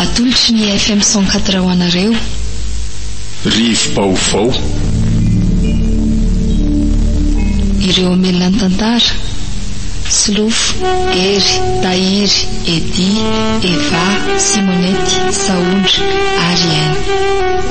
Atolotry ny FM cent quatre ho anareo. Rivo-baovao. Ireo hamelona ny tantara, Solofo, Hery, Tahiry, Eddy, Eva, Simonette, Sahondra, ary N.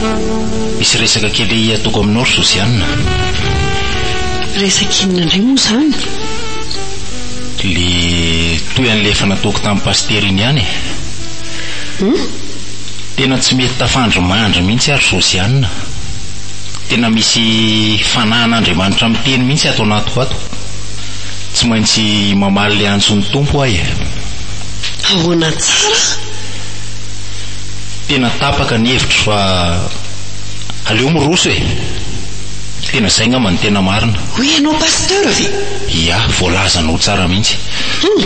Misy resaka kely ataoko aminao ry Josiane. Resaka inona indray moa izany? Ilay toy an'ilay efa nataoko tamin'i Pasitera iny ihany e. Hum? Tena tsy mety tafandry mandry mihitsy aho ry Josiane. Tena misy fanahin'Andriamanitra miteny mihitsy ato anatiko ato. Tsy maintsy mamaly ilay antson'ny Tompo aho e. Ahoana tsara? Tena tapaka ny hevitro fa aleo miroso e! Tena zay ngamba no tena marina. Hoy ianao Pasteur ve? Ia, voalazanao tsara mihitsy. Hum!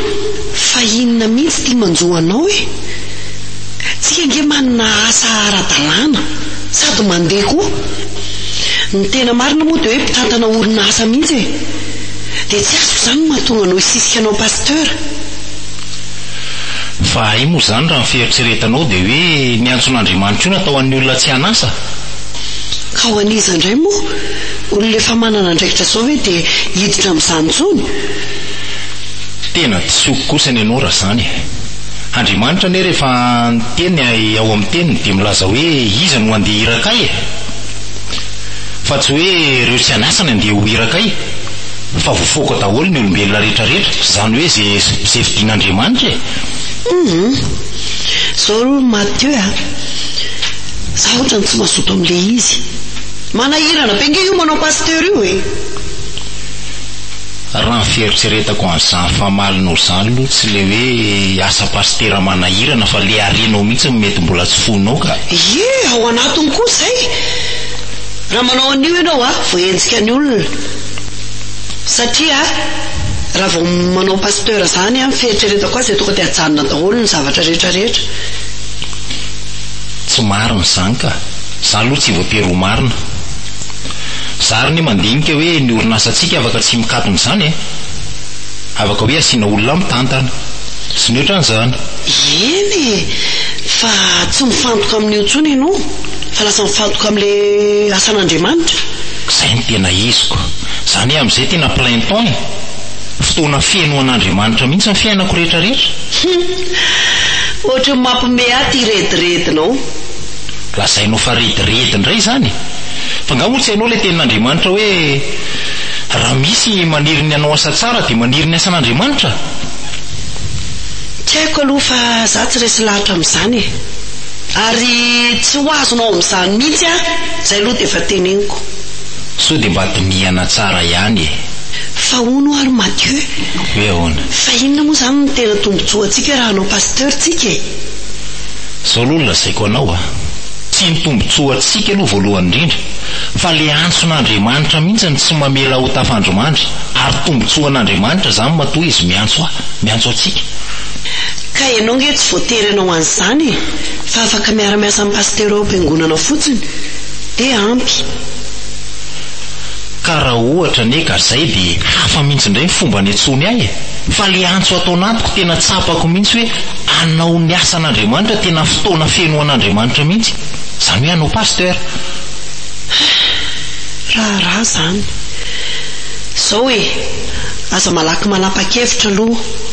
Fa inona mihitsy ity manjo anao e? Tsika ange manana asa ara-dalàna sady mandeha koa. Ny tena marina moa dia hoe mpitantana orinasa mihitsy e! Dia tsy azoko izany ny mahatonga anao hisisika anao Pasteur. Fa hay moa izany raha ny fieritreretanao dia hoe ny antson'Andriamanitra io natao an'ny olona tsy hanasa? Ka ho an'iza indray moa? Olona efa manana andraikitra izao ve dia hiditra amin'izany intsony? Tena disoiko kosa ny anao raha izany e! Andriamanitra anie rehefa niteny ao amin'ny teniny dia milaza hoe iza no handeha hiraka ahy e! Fa tsy hoe ireo tsy hanasa ny handeha ho hiraka ahy! Fa voafoaka daholo ny olombelona rehetra rehetra, izany hoe ze ze fidin'Andriamanitra e! Humm. Zao ro Mathieu a. Za otrany tsy mazoto amle izy. Manahirana be nge io manao pasteur io e. Raha ny fieritreretako an'izany famalinao zany aloha tsy le hoe asa pasitera manahirana fa le harenao mihitsy no mety mbola tsy foinao ka. Ie, ao anatiny koa izay! Raha manao an'io ianao a, voaenjika ny olona. Satria raha vao manao pasteur zany an, fieritreretako azy dia tonga dia ajanona daholo ny zavatra rehetra rehetra. Tsy marina izany ka. Za aloha tsy voatery ho marina. Za ary anie mandinika hoe ny orinasantsika afaka tsy mikatona izany e. Afaka hoe asiana olona mitantana. Tsy ny otrany izany. Eny e, fa tsy mifantoka amin'io intsony ianao fa lasa mifantoka amin'ilay asan'Andriamanitra. Izay no tena izy ko. Izany hoe amin'izay tena plein temps e! Fotoana feno ho an'Andriamanitra mihitsy ny fiainako rehetra rehetra. Humm! Ohatry ny mampme ahy ity rediredinao. Lazainao fa rediredy indray izany e! Fa nga moa tsy hainao ilay tenin'Andriamanitra hoe, Raha misy maniry ny hanao asa tsara dia maniry ny asan'Andriamanitra? Tsy haiko aloha fa za tsy resy lahatra amin'izany e! Ary tsy ho azonao amin'izany mihitsy aho, izay aloha dia efa teneniko. Sao dia mba dinihana tsara ihany e! Fa hono ary Mathieu. Hoe ahoana? Fa inona moa izany no tena tombontsoa antsika raha hanao pasteur tsika e? Izao aloha no lazaiko anao a! Tsy ny tombontsoa antsika aloha voalohany indrindra, fa le antson'Andriamanitra mihitsy no tsy mamela ahy ho tafandrimandry, ary tombontsoan'Andriamanitra izany matoa izy miantso ahy, miantso antsika. Ka ianao nge tsy voatery hanao an'izany e, fa afaka miara miasa amin'ny pasitera ao am-piangonana fotsiny dia ampy. Ka raha ohatra anie ka zay dia hafa mintsy indray ny fomba niantsoany ahy e! Fa le antso ataon'antoko tena tsapako mintsy hoe hanao ny asan'Andriamanitra tena fotoana feno ho an'Andriamanitra mintsy, zany hoe hanao pasteur. Heh, raharaha zany. Zao e, aza malaky manapa-kevitra aloha.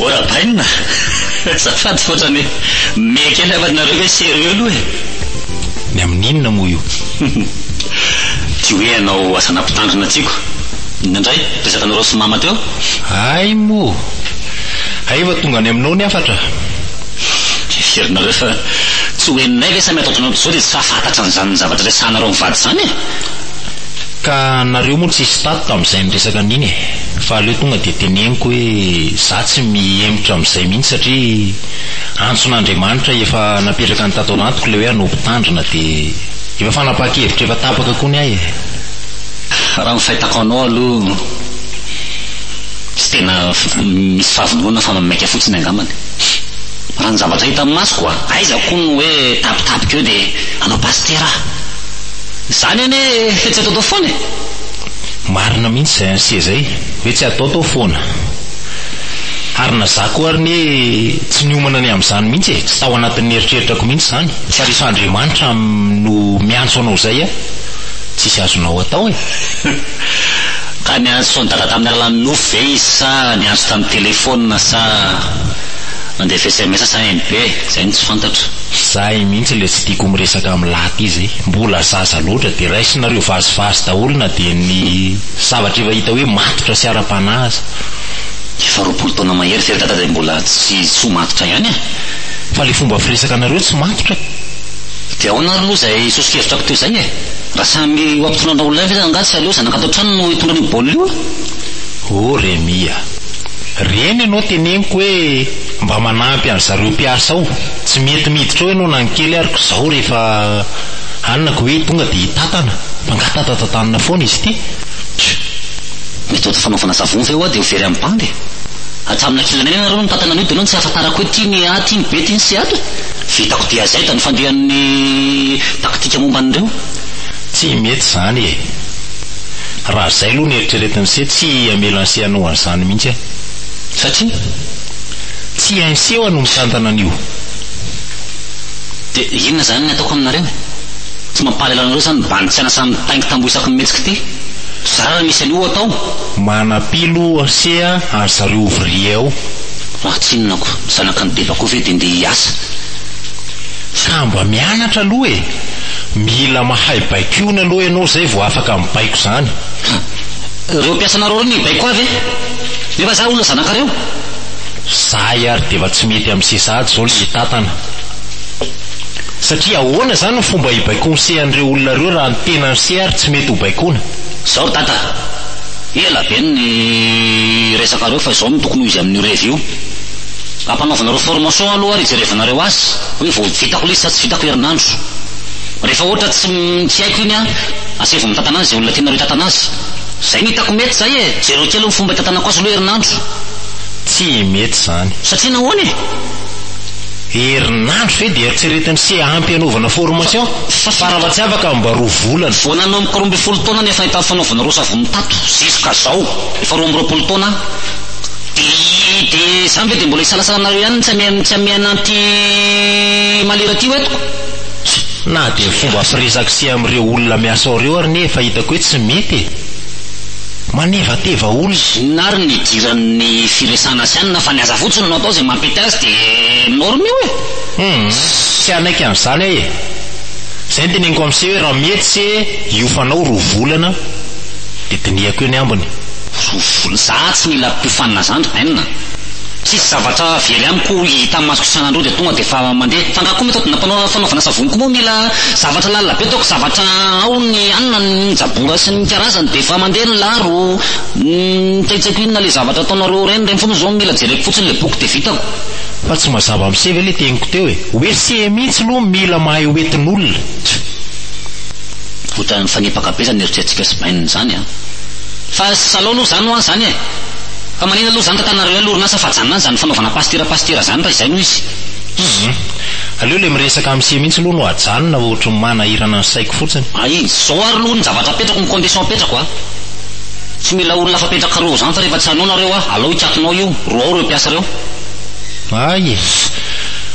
Ô Rabaina, azafady fa ohatrany hoe mehy kely aho fa nareo ve sérieux aloha e? Ny amin'inona moa io? Ty hoe hanao asana mpitandrina tiako. Inona indray? Resakanareo sy mama teo? Hay moa! Hay efa tonga any aminao ny hafatra. Heverinareo fa tsy ho henonay ve sa mety ataonao toizao dia tsy fahafantatra an'izany zavatra resahanareo mivady izany e? Ka nareo moa tsy hisy tato tamin'izay niresaka an'iny e! Fa aleo tonga dia teneniko hoe za tsy mihemotra amin'izay mihitsy satria antson'Andriamanitra efa napetraka any tato anatiko ilay hoe hanao mpitandrina dia efa fanapahan-kevitra efa tapaka koa ny ahy e! Raha ny fahitako anao aloha tsy tena misy fahavononana fa maika fotsiny angambany. Raha ny zavatra hita amin'ny masoko a! Aiza koa no hoe tapitapika eo dia hanao pasitera aho? Izany anie tsy ataotao foana e! Marina mihitsy izay an'i Seza e! Hoe tsy ataotao foana. Ary na za koa ary anie tsy niomana ny amin'izany mihitsy e! Tsy tao anatin'ny eritreritrako mihitsy izany fa rehefa Andriamanitra no miantso anao izay a! Tsisy azonao atao e! Ka niantso fony dada tamin'ny alalan'ny nofy ve izy sa niantso tamin'ny telephone sa nandefa sms sa NB? Zay no tsy fantatra. Zay mihitsy le tsy tiako miresaka am lahy ty zay, mbola zaza loatra de raisinareo vazivazy daholo na dia ny zavatra efa hita hoe matotra sy ara-panahy aza. Efa roapolo taona mahery ve ry dada dia mbola tsy tsy ho matotra ihany e? Fa le fomba firesaka anareo tsy matotra e! Dia ahoana ary aloha izay soso-kevitrako teo izay e? Raha samy ho ampitony anao lahy ve zany angaha tsy aleo zanaka ato an-trano no hitondra an'io baolina io a! Oh Remy a! Reny ianao teneniko hoe mba manampy an-dry zareo mpiasa ao, tsy mety miditra ao ianao na ny kely ary ko zao rehefa hanina ko hoe tonga dia hitatana fa angaha tatatatanina foana izy ity? Tjo! Méthode fanaovana savon ve hoa dia ho very amin'ny bandy e! Hatramin'ny ankilany any ianareo no nitatana an'io dia ianao no tsy ahafantarako hoe ty ny A, ty ny B, ty ny C ato e! Vitako dia zay da ny fandehan'ny Taktika momba an'ireo? Tsy mety izany e! Raha izay aloha no eritreretin'i Sia, tsy hamela an'i Sia hanao an'izany mihitsy aho. Satria tsy hain'i Sia hoa no mitantana an'io. Dia inona izany ny ataoko aminareo e? Tsy mampahalala anareo izany ny bandy tsy an'asa mitaingy tamboho isaky ny mihetsika ity? Zara raha misy an'io atao! Manapilo Sia any zareo ouvriers ao. Raha tsinona ko, zanaky ny bebako ve dia ndeha hiasa? Sa mba mianatra aloha e! Mila mahay baikoina aloha ianao zay vao afaka mibaiko zany. Ka reo mpiasanareo reo mibaiko koa ve? Nefa za olona zanakareo. Zahay ary d'efa tsy mety am sesahady zao le hitantana. Satria ahoana zany ny fomba hibaikoinse an'ireo olona ireo raha ny tenan'se ary tsy mety ho baikoina? Zao ry dada, ela be ny resakareo fa izao no tokony ho izy amin'io revy io. Ampanaovinareo formation aloha ary ijerevanareo azy hoe vao vitako lesy sa tsy vitako herinandro. Rehefa ohatra tsy tsy haiko iny an, asevo mitantana azy izay olona tianareo hitantana azy. Izay no hitako mety izay e! Jereo kely ny fomba hitantanako azy aloha herinandro. Tsy mety izany. Satria nahoana e? Herinandro ve dia eritreretiny sy ampy hanaovana formation? Fa raha tsy afaka mba roa volana. Vao nanomboka roa ambin'ny folo taona ny efa nahita ny fanaovanareo savony tato, zisca zao efa roa amby roapolo taona aho. Dia dia izany ve dia mbola hisalasala anareo ihany ny tsy hameha tsy hameha an'anty malira ty ho eto? Tjo. Na dia ny fomba firesako sy amin'ireo olona miasa ao ireo ary anie efa hitako hoe tsy mety e! Manevateva olona. Inona ary ny idiran'ny firesana asiana fa ny aza fotsiny no atao izay mampety azy dia norme io e! Humm, tsy hanaiky an'izany aho e! Izay no teneniko amin'ise hoe raha mety ise hiofanao roa volana dia dinihako eo ny ambiny. Sosoa. Za tsy mila mpiofanina zandry ein. Tsisy zavatra very amiko hita masoko isan'andro eo dia tonga dia efa mandeha. Fa angaha koa mety fanaovana fanaovana savony koa moa mila zavatra lalina be ataoko zavatra ao ny hanina ny jabora sy ny karazany dia efa mandeha ny laro ny tsaitsaiko inona le zavatra ataonareo ireny ireny foana zao no mila jereko fotsiny le boky dia vitako. Fa tsy mazava mise ve le teniko teo e? Hoe see mihitsy loha mila mahay hoentin'olona. Tch. Ohatran'ny mifanipaka be zany eritreritsintsika sy bainina zany an. Fa ry salao aloha zany hoan zany e! Fa manina aloha zany tantanareo ihany lorinasa fa ajanona any zany fanaovana pasitera pasitera zany raha izay no izy. Hum. Aleo le miresaka am sie mintsy aloha no ajanona fa otriny manahirana ny saiko fotsiny. Ah iny, zao ary aloha ny zavatra apetrako ny condition apetrako a! Tsy mila olona afa petrakareo ao zany fa rehefa tsy hanao nareo a, alao hikatonao io, roao reo mpiasa reo. Hay e!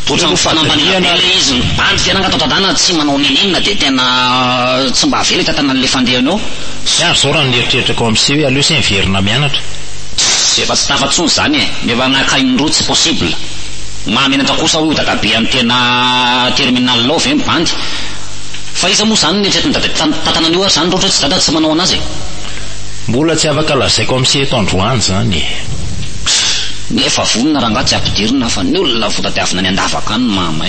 Otrany fanambaniana be le izy, mibandy fiainana ato an-tanàna, tsy manao nenenina de tena tsy mba avela i tantanan'le. Efa andeha anao? Tsy azo zao raha ny eritreritrako ao amse hoe aleo se miverina mianatra. Tss efa tsy tafa tsony zany e, nefa nakainy roa tsy possible. Maha menatra kosa hoy dadabe any tena terminal ao ve ny bandy? Fa iza moa zany no neritreritiny dadabe tantana an'io ary zany raha ohatra hoe tsy dada tsy manao anazy e. Mbola tsy afaka lazaiko amse eto androany zany e. Tss nefa vonona rangah tsy ampidirina fa ny olona votadiavina any andavaka any mahamay.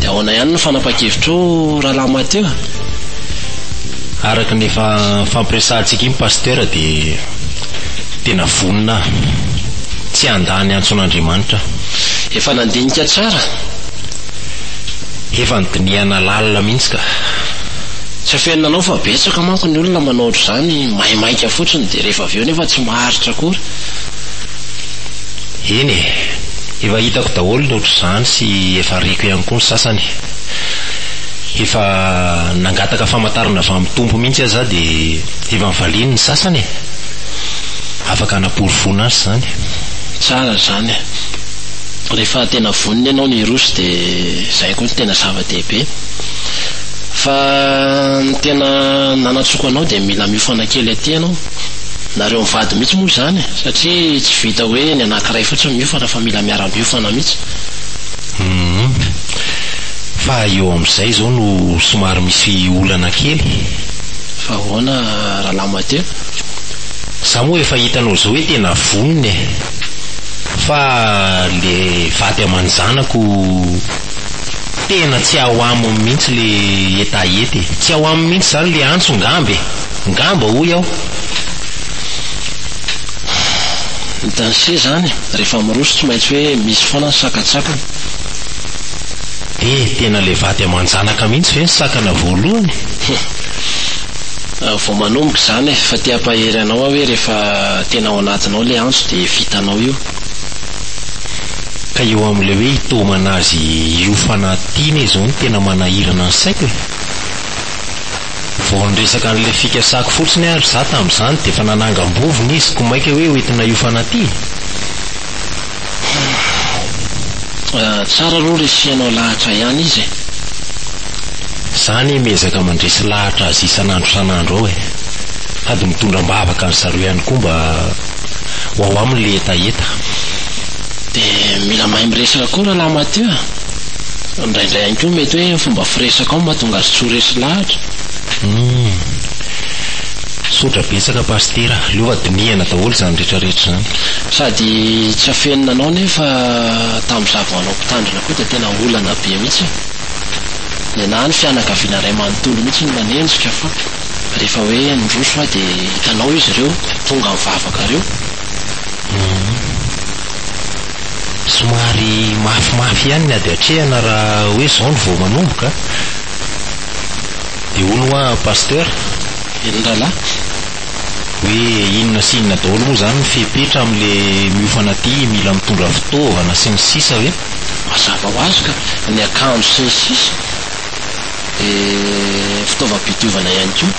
Dia ahoana ihany ny fanapahan-kevitrao Rahalahy Mathieu? Araka ny efa fampiresahantsika iny Pasteur dia tena vonona aho. Tsy handà ny antson'Andriamanitra aho. Efa nandinika tsara? Efa nodinihana lalina mihitsy ka. Tsy afenina anao fa betsaka manko ny olona manao ohatr'izany, maimaika fotsiny dia rehefa avy eo nefa tsy maharitra akory. Eny e. Efa hitako daholo ny otr'izany sy efa reko ihany koa ny sasany. Efa nangataka famantarana avy amin'ny Tompo mihitsy aza aho dia efa nivaliany ny sasany e! Afaka hanaporofoana azy izany. Tsara izany. Rehefa tena vonona ianao ny hiroso dia izay koa no tena zava-dehibe. Fa ny tena nanatsoako anao dia mila miofana kely aty ianao. nareo mivady mihitsy moa izany e! Satria tsy vita hoe ny anankiray fotsiny miofana fa mila miara-miofana mihitsy. Humm. Fa eo amin'izay izao no somary misy olana kely e! Fa ahoana Rahalahy Mateo? Za moa efa hitanao izao hoe tena vonona e! Fa le vady aman-janako tena tsy ao aminy mihitsy le hetaheta e! Tsy ao aminy mihitsy izany le antso ngamba e! Ngamba hoy aho. Hitan'i se izany, rehefa miroso tsy maintsy hoe misy foana ny sakantsakany. Dia tena ilay vady aman-janaka mihitsy ve ny sakana voalohany? Humph! Vao manomboka izany e! Fa te hampahery anao aho hoe rehefa tena ao anatinao ilay antso dia vitanao io. Ka eo amin'ilay hoe hitaomana azy hiofana aty iny izao no tena manahirana ny saiko e! Vao niresaka an'ilay fikasako fotsiny ary za tamin'izany dia efa nanangam-bovona izy koa mainka hoe hoentina hiofana aty e! Tsara aloha resihanao lahatra ihany izy e! Za anie miezaka mandresy lahatra azy isan'andro isan'andro ao e! Sady mitondra am-bavaka an'i zareo ihany koa mba ho ao aminy ilay hetaheta. Dia mila mahay miresaka koa Rahalahy Mathieu a! Indraindray ihany koa mety hoe ny fomba firesakao no mahatonga azy tsy ho resy lahatra. Humm. Misaotra betsaka Pasitera. Aleo fa dinihana daholo izany rehetra rehetra izany. Sady tsy afenina anao nefa tamin'izaho vao hanao mpitandrina koa dia tena olana be mihitsy e. Nenaha ny fianakaviana iray manontolo mihitsy ny nanenjika fa rehefa hoe niroso aho dia hitanao izy ireo tonga nivavaka ireo. Humm. somary mafimafy ihany ny ady atrehana raha hoe izao no vao manomboka a! Dia hono hoa Pasteur, Velondrahalahy, hoe inona sy inona daholo moa izany ny fepetra amin'ilay miofana aty, mila mitondra fitaovana sy ny sisa ve? Mazava ho azy ka! Ny akanjo sy ny sisa dia fitaovam-pidiovana ihany koa.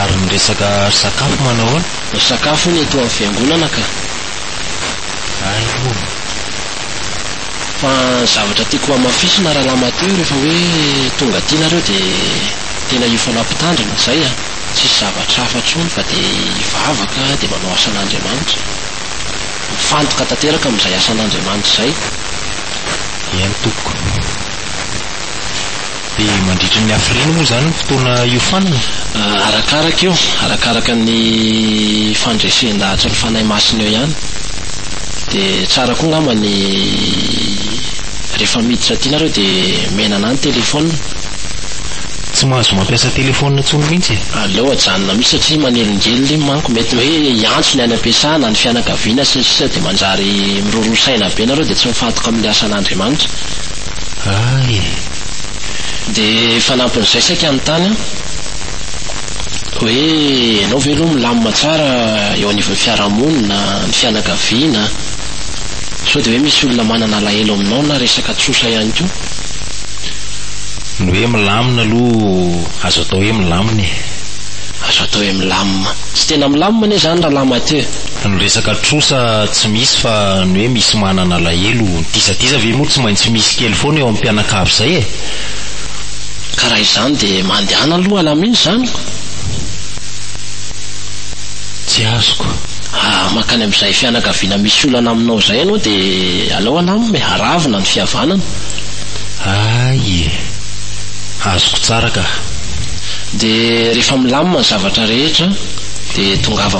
Ary ny resaka sakafo manao ahoana? Ny sakafo hono eto amin'ny Fiangonana ka! Ainoana. Fa ny zavatra tiako hamafisina Rahalamateo rehefa hoe tonga aty nareo dia tena io foana Mpitandrina, izay a! Tsisy zavatra hafa intsony fa dia hivavaka dia manao asan'Andriamanitra. Mifantoka tanteraka amin'izay asan'Andriamanitra izay. Eny tompoko. Dia mandritra ny hafiriana moa izany ny fotoana hiofanana? Arakaraka io, arakaraka ny fandresen-dahatry ny Fanahy Masina eo ihany. Dia tsara koa angamba ny rehefa miditra aty nareo dia menana ny telefaonina. Tsy mahazo mampiasa telefaonina intsony mihitsy e! Aleo ajanona mihitsy satria manelingelina iny manko, mety hoe hiantso ny any am-piasana, ny fianakaviana sy ny sisa dia manjary miroroa saina be nareo dia tsy mifantoka amin'ny asan'Andriamanitra. Ah e! Dia fanampin'izay saika hanontany aho hoe ianao ve aloha milamina tsara eo anivon'ny fiarahamonina, ny fianakaviana? Sao dia hoe misy olona manana alahelo aminao na resaka tsosa ihany koa? Ny hoe milamina aloha azo atao hoe milamina e! Azo atao hoe milamina. Tsy tena milamina anie izany Rahalahy Mathieu. Ny resaka trosa tsy misy fa ny hoe misy manana alahelo diza diza ve moa tsy maintsy misy kely foana eo am mpianakavy izay e! Ka raha izany dia mandehana aloha alamino izany ko! Tsy azoko. Raha mankany amin'izay fianakaviana misy olana aminao izay ianao dia aleo alam e! Aravona ny fihavanana. Hay e! Azoko tsara ka. Dia rehefa milamina ny zavatra rehetra dia tongava.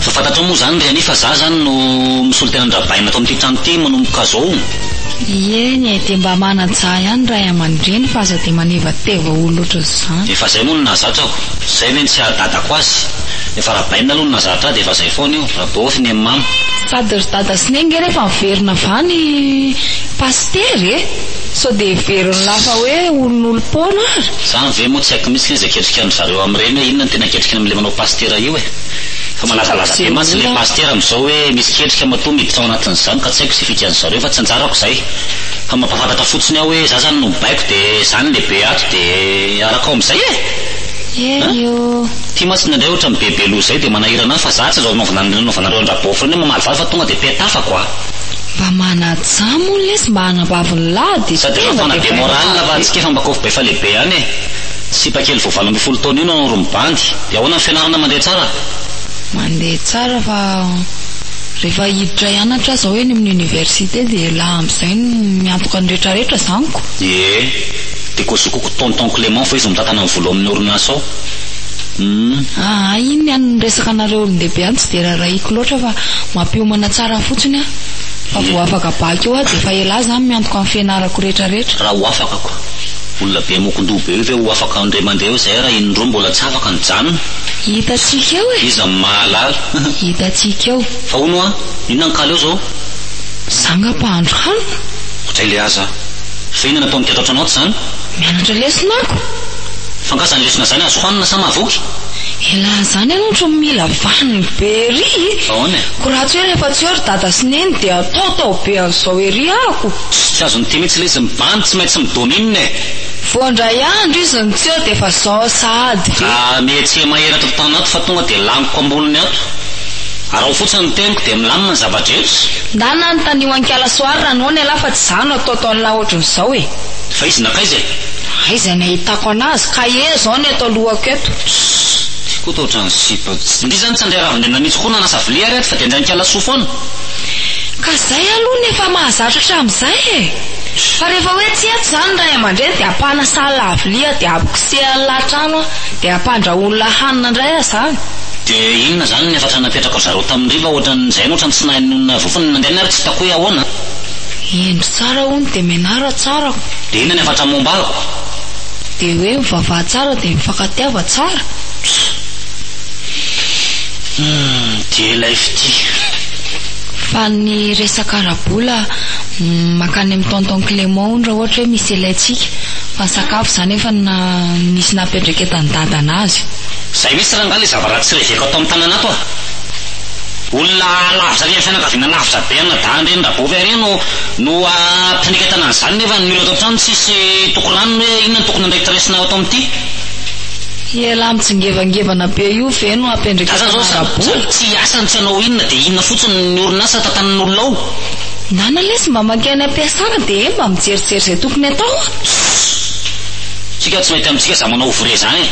Fa fantatrao moa izany ry Annie fa za izany no misolo tena an-dRabaina ato amin'ity trano ity manomboka izao. Ieny e, dia mba manan-tsaha ihany ray aman-dreny fa aza dia manevateva olona ohatr'izany. Efa izay moa no nahazatra aho. Izay ve no tsy haha-dadako azy. Efa Rabaina aloha no nahazatra ahy dia efa izay foana io. Rabaofy ny an'i mama. Sady ry dada sy neny nge refa miverina avy any pasitera e! sao dia heveriny lafa hoe olon'olom-poana ary. Zany ve moa tsy haiko mihitsy le zay ketrikan-dry zareo amin'ireny hoe inona no tena ketrikiny amin'ilay manao pasitera io e! fa malazalaza be mantsy le pasitera amin'izao hoe misy ketrika matoa miditra ao anatin'izany ka tsy haiko ze fikan'ny zareo fa tsy anjarako zay fa mampafantatra fotsiny aho hoe za zany no mibaiko de zany lehibe ato de araka ao amin'izay e! Hery o! Ty mantsy indraindray otrany be be loha zay de manahirana ahy fa za tsy zao anaovana anle anaovanareo an-dra beaufriend hoe mamaly vava fa tonga de petafako a! Mba manajà moa lesy mba hanambaviny lahy de Sady efa tena be morale fa antsika efa mba kofbe fa lehibe ihany e! Sipa kely vao valo ambin'ny folo taona io no nanao romibandy! De ahoana ny fianarana mandeha tsara? Mandeha tsara fa rehefa hiditra hianatra aho zao eny amin'ny université de elah amzay no miantoka ny retraretra zany ko! Ie! De kozokoa ko tonton Clément fa izy no mitantana ny vola ao amin'ny orinasa ao humm. Aa iny ny an'ny resaka anareo olondehibe any tsy dia raharahiako loatra fa mampiomana tsara fotsiny an! Fa vao afaka bac eo aho dia efa elah zany miantoka ny fianarako rehetra rehetra. Raha ho afaka ko. Olona be mokondoha be io ve ho afaka indray mandeha eo zay raha iny roa mbola tsy afaka nijanona? Hitantsika eo e! Iza no mahalala? Hitantsika eo. Fa hono hoa, inona ny kalo eo zao? Za ngah mpahandro hanina? Hotely aza. Ve ny any am-pao mikatroka anao tsy izany? Mianatra lesona ako. Fa nga zany lesona zany azo hoanina sa mahavoky? Elah zany aloha otrany mila vaniny be ery e! Ahoana e? Ko ratsy hoe rehefa tsy eo ry dada sy neny dia ataotao be an'izao ery ako. Tss tsy azo miteny mihitsy lesy mibany tsy maintsy mi-domine e! Vao indray andro izy no tsy eo dia efa zao sahady ve? Raha mihetsika mahery ato an-tany ato fa tonga dia laniko am-bolony ato. Araho fotsiny ny teniko dia milamina ny zava-drehetra. Ndana anotanio an'i Kala Soary Ranona elah fa. Za no atao tao an'lah ohatry ny zao e. Vaizina akaiza e? Aiza ny ahitako anazy? Cahier zao ny eto alohako eto. Ssss, ty koa toa ohatran'ny sipa. Ndry zany tsy handray ravin-dendrina mihitsy koa nanasa vilia ary ato fa dia handray an-kiala soa foana. Ka zay aloha ny efa mahazatra hatramin'izay e. Fa rehefa hoe tsy eto zany ny ray aman-dreny dia hampanasa an'lah vilia dia hampikosehany an'lah trano aho dia hampandrahoany lah hanina indray aho zany. Dia inona zany ny hafatra napetraka ry zareo tamin'ny hariva ohatran'ny zay no ohatran'ny tsy nahay nonina voafony ny nandehany ary tsy hitako hoe ahoana. Hendry tsara hono dia menara tsara aho. Dia inona ny hafatra momba ahy ko? Dia hoe mivavaha tsara dia mifankatiava tsara. Humm dia ilay fitia. Fa ny resaka ara-bola mankany amin'ny tonton Clément hono raha ohatra hoe misy ilaintsika. Fa ny sakafo izany efa nisy nampiandraiketan'i dada anazy. Izay mihitsy rangahy ilay zavaratsy reveko ato amin'ny tanana ato a! Olona lavitra any amin'ny fianakaviana lavitra be ana dahy andreny Rabovy ary no no mpanekatana an'izany nefa ny olona ato an-trano tsisy toko ranony hoe inona no tokony andraikitra raisina ato amin'ity. Ity elah mitsingevangevana be io ve no hampiandreketana an Rabovy? Tsy hiasa no tsy hanao inona dia inona fotsiny ny orinasa tantanin'olona ao? Nana lesy mba mankeo any ampiasana dia eny mba mijerijery izay tokony atao a! Ssss! Tsika tsy mety amintsika za manao ouvrier zany e!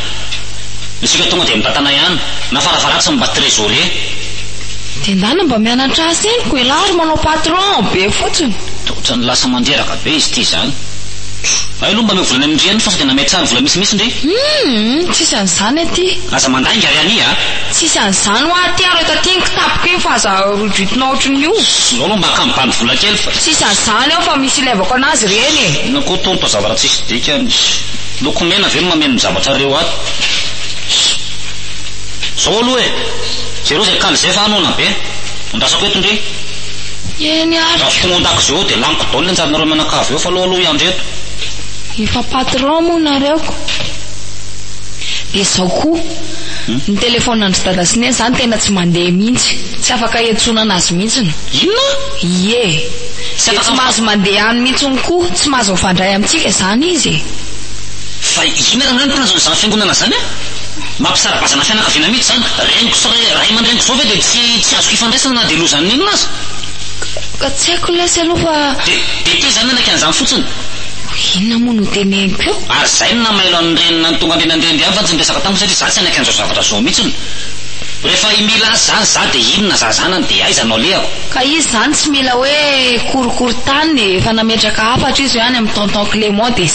Isika tonga dia mitantana ihany. Na varavaratsy mba trésorer. Dia ndana mba mianatra asa eny ko elah ry manao patron be fotsiny. Otrany lasa mandreraka be izy ity zany. Hay aloha mba omeo vola any amin dry any fa sao dia namay tsara vola misimisy ndry. Humm tsisy an'izany aty. Aza mandainga ry ani a. Tsisy an'izany hoa aty ary eto aty iny kitapoko iny fa aza rohidohitina ohatrin'ny io. Zao aloha mba akamy bandy vola kely fa. Tsisy an'izany ao fa misy ilevako anazy ireny e. Inona koa tonta zavatra tsisy dikany. Lokomena ve no mameno ny zavatra reo ato. Zao aloha e! Jereo zay kal zay fa ano ana be! Andrasako eto ndry! Eny ary Raha tsy tonga ao an-dakozia ao dia laniko daoly ny anjaranareo mianakavy eo fa aleo aloha hiandry eto! Efa patron moa nareo ko. Dia zao koa, ny téléphone an-dry Dada sy Neny zany tena tsy mandeha mihitsy, tsy afaka iantsonana azy mihitsiny. Inona? Ie, dia tsy mahazo mandeha any mihitsiny koa, tsy mahazo mifandray amintsika zany izy e! Fa inona rangahy no tanjona izany fiangonana izany an? Mampisaribazana fianakaviana mihitsy izany. Reniko sy ray aman-dreniko izao ve dia tsy tsy azoko ifandraisana na dia lozan'ny inona aza? Ka tsy haiko ny lesy aloha fa. Dia dia teo izany nanaky an'izany fotsiny. Inona moa no teneniko eo? Ary izay no namailo an'i Reny nanontongany Reny an'ireny ihany fa tsy niresaka tamiko satria za tsy hanaky an'izao zavatra izao mihitsiny. Rehefa i Mila azy izany za dia inona za zanany dia aiza no alehako? Ka izy izany tsy mila hoe korokorontanina e, efa nametraka hafatra izy hoe any amin'i Tonton Clément dia.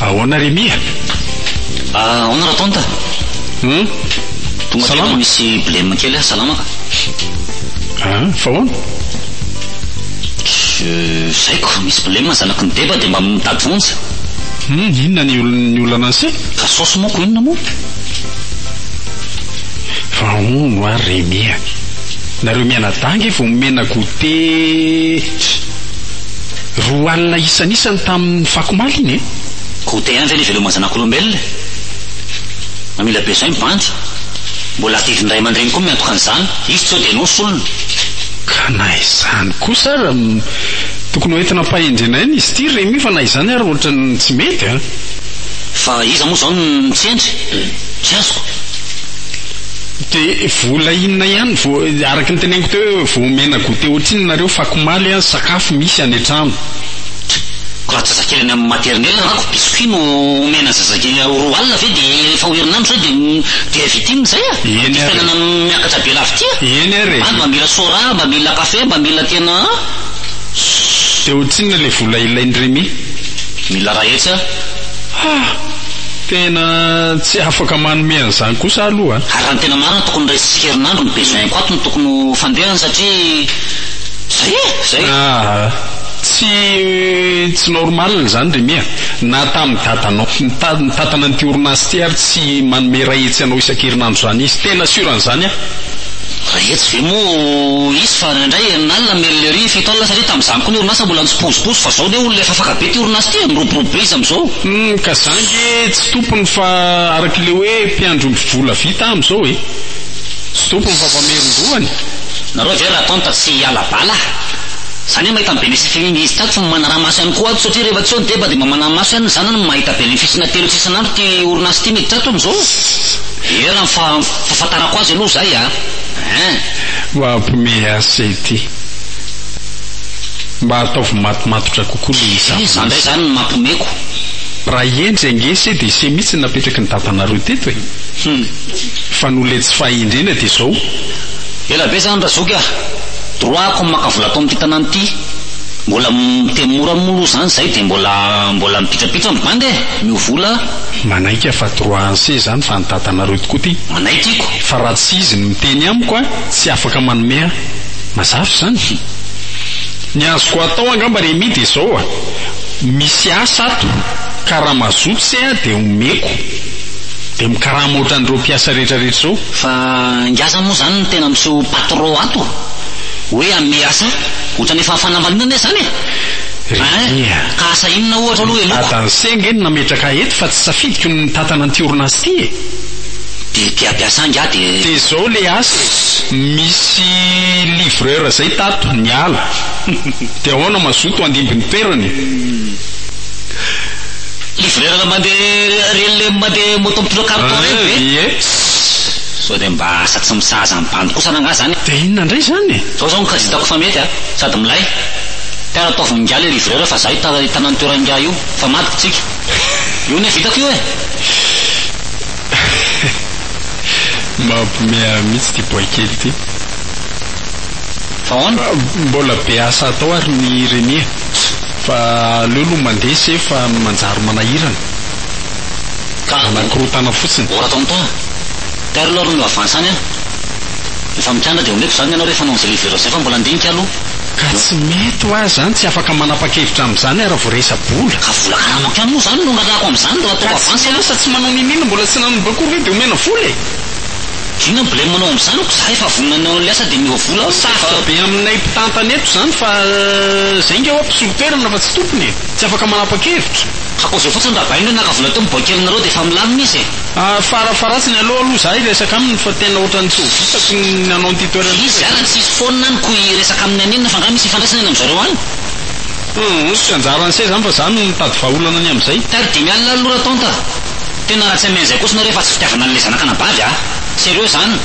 Ahoana ry Mia? Ah, ahoana ra tonta? Hum? Tonga tena Salama. misy blem kely aho, salama ka. Ah, fa ahoana? Je zay ko misy blem zanaky ny deba dia mba mitady vonjy. Hum, inona ny ol- ny olana anse? Ka saosy moa ko inona moa? Fa hono hoa Remy a! Nareo mianadahy nge vao nomena goûté tch! Roa alina isan'isany tamin'ny fakomaly iny e! Goûté ihany ve ny veloma zanak'olombelona e! Mamela be zay ny bandy! Mbola adidin'ny ray aman-dreny koa miantoka an'izany, izy tsy eo dia ianao solony! Ka na izany kosa ara, tokony ho entina ampahendrena ihany izy ity Remy fa na izany ary ohatran'ny tsy mety a! Fa iza moa izao no mitsendry? Tsy azoko. Dia vola inona ihany vao, araka ny teneniko teo hoe vao omena goûter ohatrinona nareo, fako omaly an, sakafo misy any an-trano. Tch! ko raha zazakely any amin'ny maternelle rako, biscuit no omena ny zazakely ao roa alina ve dia efa ho herinandro izay dia dia avy ity no izay an! Eny ary e! Ity fiainana miakatra be lafy ity an! Eny ary e! Any mba mila soda, mba mila café, mba mila tena an! Dia ohatrinona ilay vola ilain'i Remy? Mila raha etsy a! Ha! Tena tsy afaka manome an'izany kosa aho aloha a! Ary raha ny tena marina tokony iray herinandro ny besoin-ko ato no tokony ho fandehany satria zay e! Zay! Aa! Tsy tsy normal izany ry Mia! Na tamin'ny dadanao nitad nitantana an'ity orinasa ity ary tsy manome iray hetsy anao isan-kerinandro izany izy! Tena sûr an'izany aho! Iray hetsy ve moa hisy fa. Ary indraindray herinalina ny merlerie fito alina satria tamin'izany koa ny orinasa mbola nitsipozipozy fa izao anie olona efa afaka be ity orinasa ity e, miroborobo be izy amin'izao. Humm ka za nge tsy tompony fa arak'ilay hoe mpiandry omby vola vita aho amin'izao e. Tsy tompony fa mpamerin-dohany. Nareo ve ratonta tsy hiala bala? Za anie mahita ny benefice-ny iny izy tato fa manaraha maso ihany koa ato satria rehefa tsy eo ny deba dia mba manaraha maso ihany ny zanany no mahita benefice-na telo isa isan'andro ity orinasa ity miditra ato amin'izao. Eran fa fahafantarako azy aloha zay a. Hein. Mampme ase ity. Mba ataovy matomatotra kokoa le izy ampy. Iza ndray zany no mampmeko. Raha hendry ange se de se mitsy napetraky ny dadanareo teto e! Fa noho le tsy fahendrena de zao. Ela be zany Razoky ah! Droit ko maka vola ato amin'ity tanàna ity. Mbola miteny mora moa aloha zany zay de mbola mbola mipitrapitra ny bandy e! Miovola a! Manaiky aho fa droit anse zany fa an'i dadanareo tokoa ty. Manaiky iko. Fa raha tsy izy no miteny amiko a! tsy afaka manome ahy mazava izany hum! Ny azoko atao angamba Remy dia izao a! misy asa ato ka raha mazoto se aho dia omeko dia mikarama ohatran'ireo mpiasa rehetrarehetra izao. Fa ingahy zany moa izany no tena miseho patron ato hoe hanome asa ohatran'ny efa fanambaniana anie izany e! Remy a! ka asa inona ohatra aloha eloko? Ny dadan'se ange no nametraka ahy eto fa tsy safidiko ny mitantana an'ity orinasa ity e! dia te hampiasa angaha dia. Dia zao le asa misy livreur zay tato ny ala dia aona mazoto handimby ny toerany e. Livreur mande rele mande moto mpino carton reny ve? Ie. Sao dia mba asa tsy misahaza ny bandy kosana angaha zany e. Dia inona ndray zany e. Zao zao no kajy hitako fa mety a, sady milay. Mpiara-taovina ingahy le livreur fa za hitana ny toerany ingahy io fa madiko tsika. Io anie vitako io e! Mampimeahy mihitsy ity boay kely ity. Fa ahoana? Mbola be asa atao ary ny Reny e! Fa aleo aloha mandeha se fa manjary manahirana. Ka! Manakorontana fotsiny. Ora tao Mta. Perle ary no avance any an! Efa mikandra dia omeko izany ny anao rehefa hanao an'izay livrer izay fa mbola handinika aloha. Ka tsy mety ho ahy zany, tsy afaka manapakevitra amin'izany ary vao resa-bola. Ka vola karaha mankany moa zany no randrako amin'izany raha ataoko avance aloha? Ka tsy miasa, tsy manao nini-nini, mbola tsy nanomboka akory ve de omena vola e? Inona ny blem anao amin'izany ko zah efa vonona ny hanao asa de miova vola aho rehefa. Sarotra be aminay mpitantana eto zany fa zay nga hoa mpisolo toerana fa tsy tompony e! Tsy afaka manapakevitra. Ka koa zao fotsiny raha bainga naka vola teo miboaika aminareo de efa milamina izy e! Farafaharatsiny aleo aloha za hiresaka aminy fa tena ohatran'ny tsy ho vitako ny hanao an'ity toerana ity satria. Iza ary ny tsisy foana any ko hiresaka aminy an'inona fa angaha misy ifandraisany any amin'izareo any? Humm, tsy anjaran'i se zany fa za no mitady vahaolana ny amin'izay. Tary dimy alina ary lora tonta a! Tena raha tsy hameno izay koa sinareo efa tsy fitiavana an'ilay zanaka anabavy a! Sérieux zany!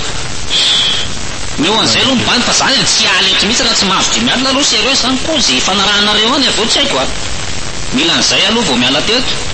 Ny eo an'izay aloha mibahana fa za tsy hiala eto mihitsy raha tsy mahazo dimy alina aloha sérieux zany koa ze ifanarahanareo any avy eo tsy haiko a! Mila an'izay aloha vao miala teto.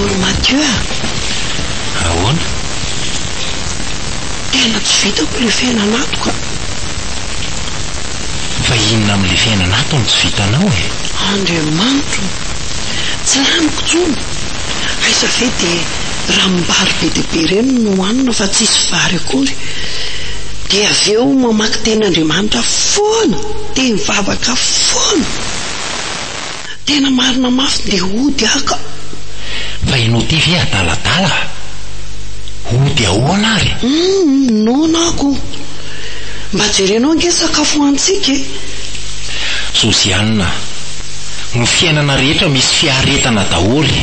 Ory Mathieu a! Ahoana? Tena tsy vitako ilay fiainan'ato ka! Fa inona amin'ilay fiainan'ato no tsy vitanao e? Andriamanitro! Tsy laniko intsony! Aiza ve dia. ranom-bary be dia be ireny no hohanina fa tsisy vary akory, dia avy eo mamaky teny Andriamanitra foana, dia mivavaka foana, tena marina mafy dia hody aho ka. Fa ianao ity ve adaladala? Hody ahoana ary? Humm noana ako. Mba jerenao ange sakafo hohanintsika e. Josiane, Ny fiainana rehetra misy fiaretana daholo e.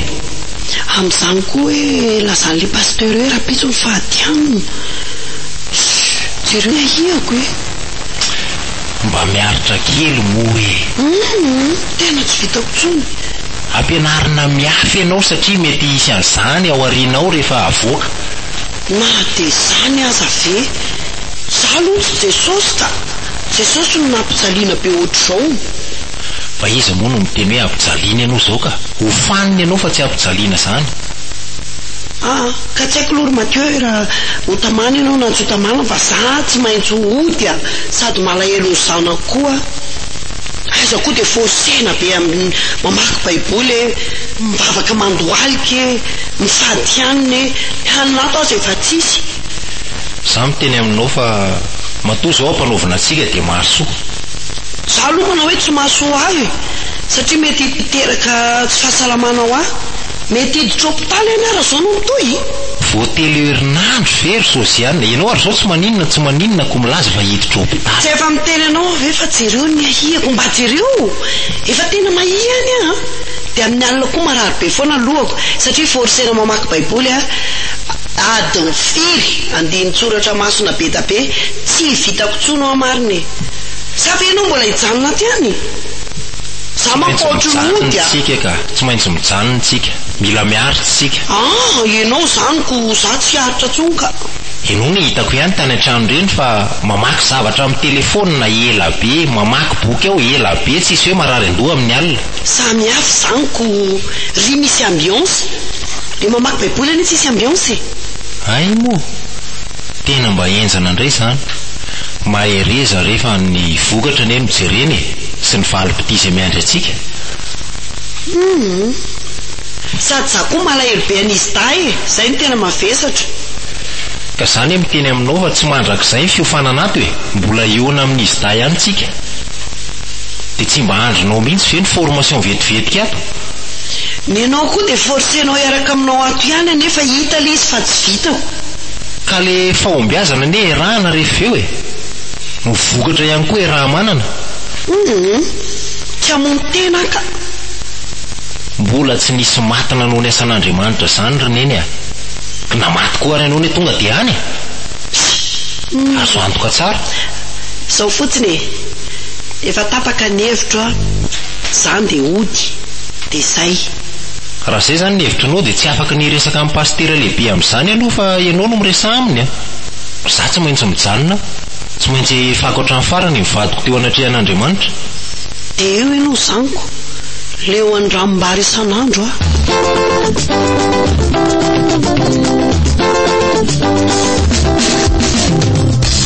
amin'izany koa hoe lazan'ilay pasteur hoe rahampitso ny fahadianana. Shuh! Jereo ahiako e! Mba miaritra kely moa e! Humm! Tena tsy vitako intsony. Ampianarina miafy ianao satria mety hisy an'izany ao aoriana ao rehefa avoaka. Na dia izany aza ve? Izaho aloha tsy Jesosy ka! Jesosy no nampijaliana be ohatr'izao! Fa iza moa no miteny hoe ampijaliana ianao izao ka? Hofanina ianao fa tsy ampijaliana izany! Aa! Ka tsy haiko aloha ry Mathieu e raha ho tamana ianao na tsy ho tamana fa za tsy maintsy ho hody a! Sady malahelo ny zanako koa! Aiza koa dia fôsena be amin'ny mamaky baiboly e! Mivavaka mandohalika e! Ny sady hiany ne hiany mato aza efa tsisy. Za miteny aminao fa matoa zao ampanaovina atsika dia mahasoa. Za aloha manao hoe tsy mahasoa ahy e, satria mety hiteraka tsy fahasalamana ho ahy. Mety hiditra hopitaly anie raha zao no mitohy. Vao telo herinandro ve ry Josiane? Ianao ary zao tsy maninona tsy maninona ko milaza fa hiditra hopitaly. Tsy efa miteny anao aho ve fa jereo ny ahiako, mba jereo! Efa tena mahia ny ahy an! Dia amin'ny alina koa marary be foana ny lohako satria forcer-na mamaky baiboly aho, adiny firy andinin-tsoratra masina be da be, tsy vitako tsony hoa marina e! Za ve ianao mbola hijanona aty any? Za manko ohatry ny ody a! Tsy maintsy mijanona tsika, mila miaritra tsika. Ah! Ianao zany ko za tsy aritra tsony ka! Ianao no hitako ihany tany an-trano ireny fa mamaky zavatra amin'ny telephone ela be, mamaky boky ao ela be, tsisy hoe marary an-doha amin'ny alina. Samy hafa izany ko ry misy ambiance, le mamaky baiboly anie tsisy ambiance e. Hay moa! Tena mba henjana indray izany. Mahereza rehefa ny vokatra anie no jerena e, sy ny valipitia izay miandry antsika. Humm. Sady za koa malahelo be an'izy dahy e, zay no tena mavesatra. Ka za anie miteny aminao fa tsy mandrakizay ny fiofanana ato e, mbola hiona amin'izy dahy ihany tsika. Dia tsy mba andrinao mihitsy ve ny formation vetivetika ato? Ny anao koa dia forcenao hiaraka aminao ato ihany anefa hita le izy fa tsy vitako. Ka le fahombiazana anie erahana rehefa eo e! Ny vokatra ihany koa eraha-manana. Humm! Kiamono tena aho ka! Mbola tsy nisy maty nanao ny asan'Andriamanitra zany ry neny a! Na maty koa ary ianao anie tonga dia any e! Azo antoka tsara. Zao fotsiny e! Efa tapaka ny hevitro a! Zany dia hody, dia zay! Raha izay izany ny hevitrinao dia tsy afaka ny hiresaka amin'ny pasitera lehibe amin'izany aloha fa ianao no miresaha aminy a! Izaho tsy maintsy mijanona aho, tsy maintsy ahefako hatramin'ny farany ny vadiko teo anatrehan'Andriamanitra. Dia eo ianao zaniko, leo andranom-bary isan'andro aho.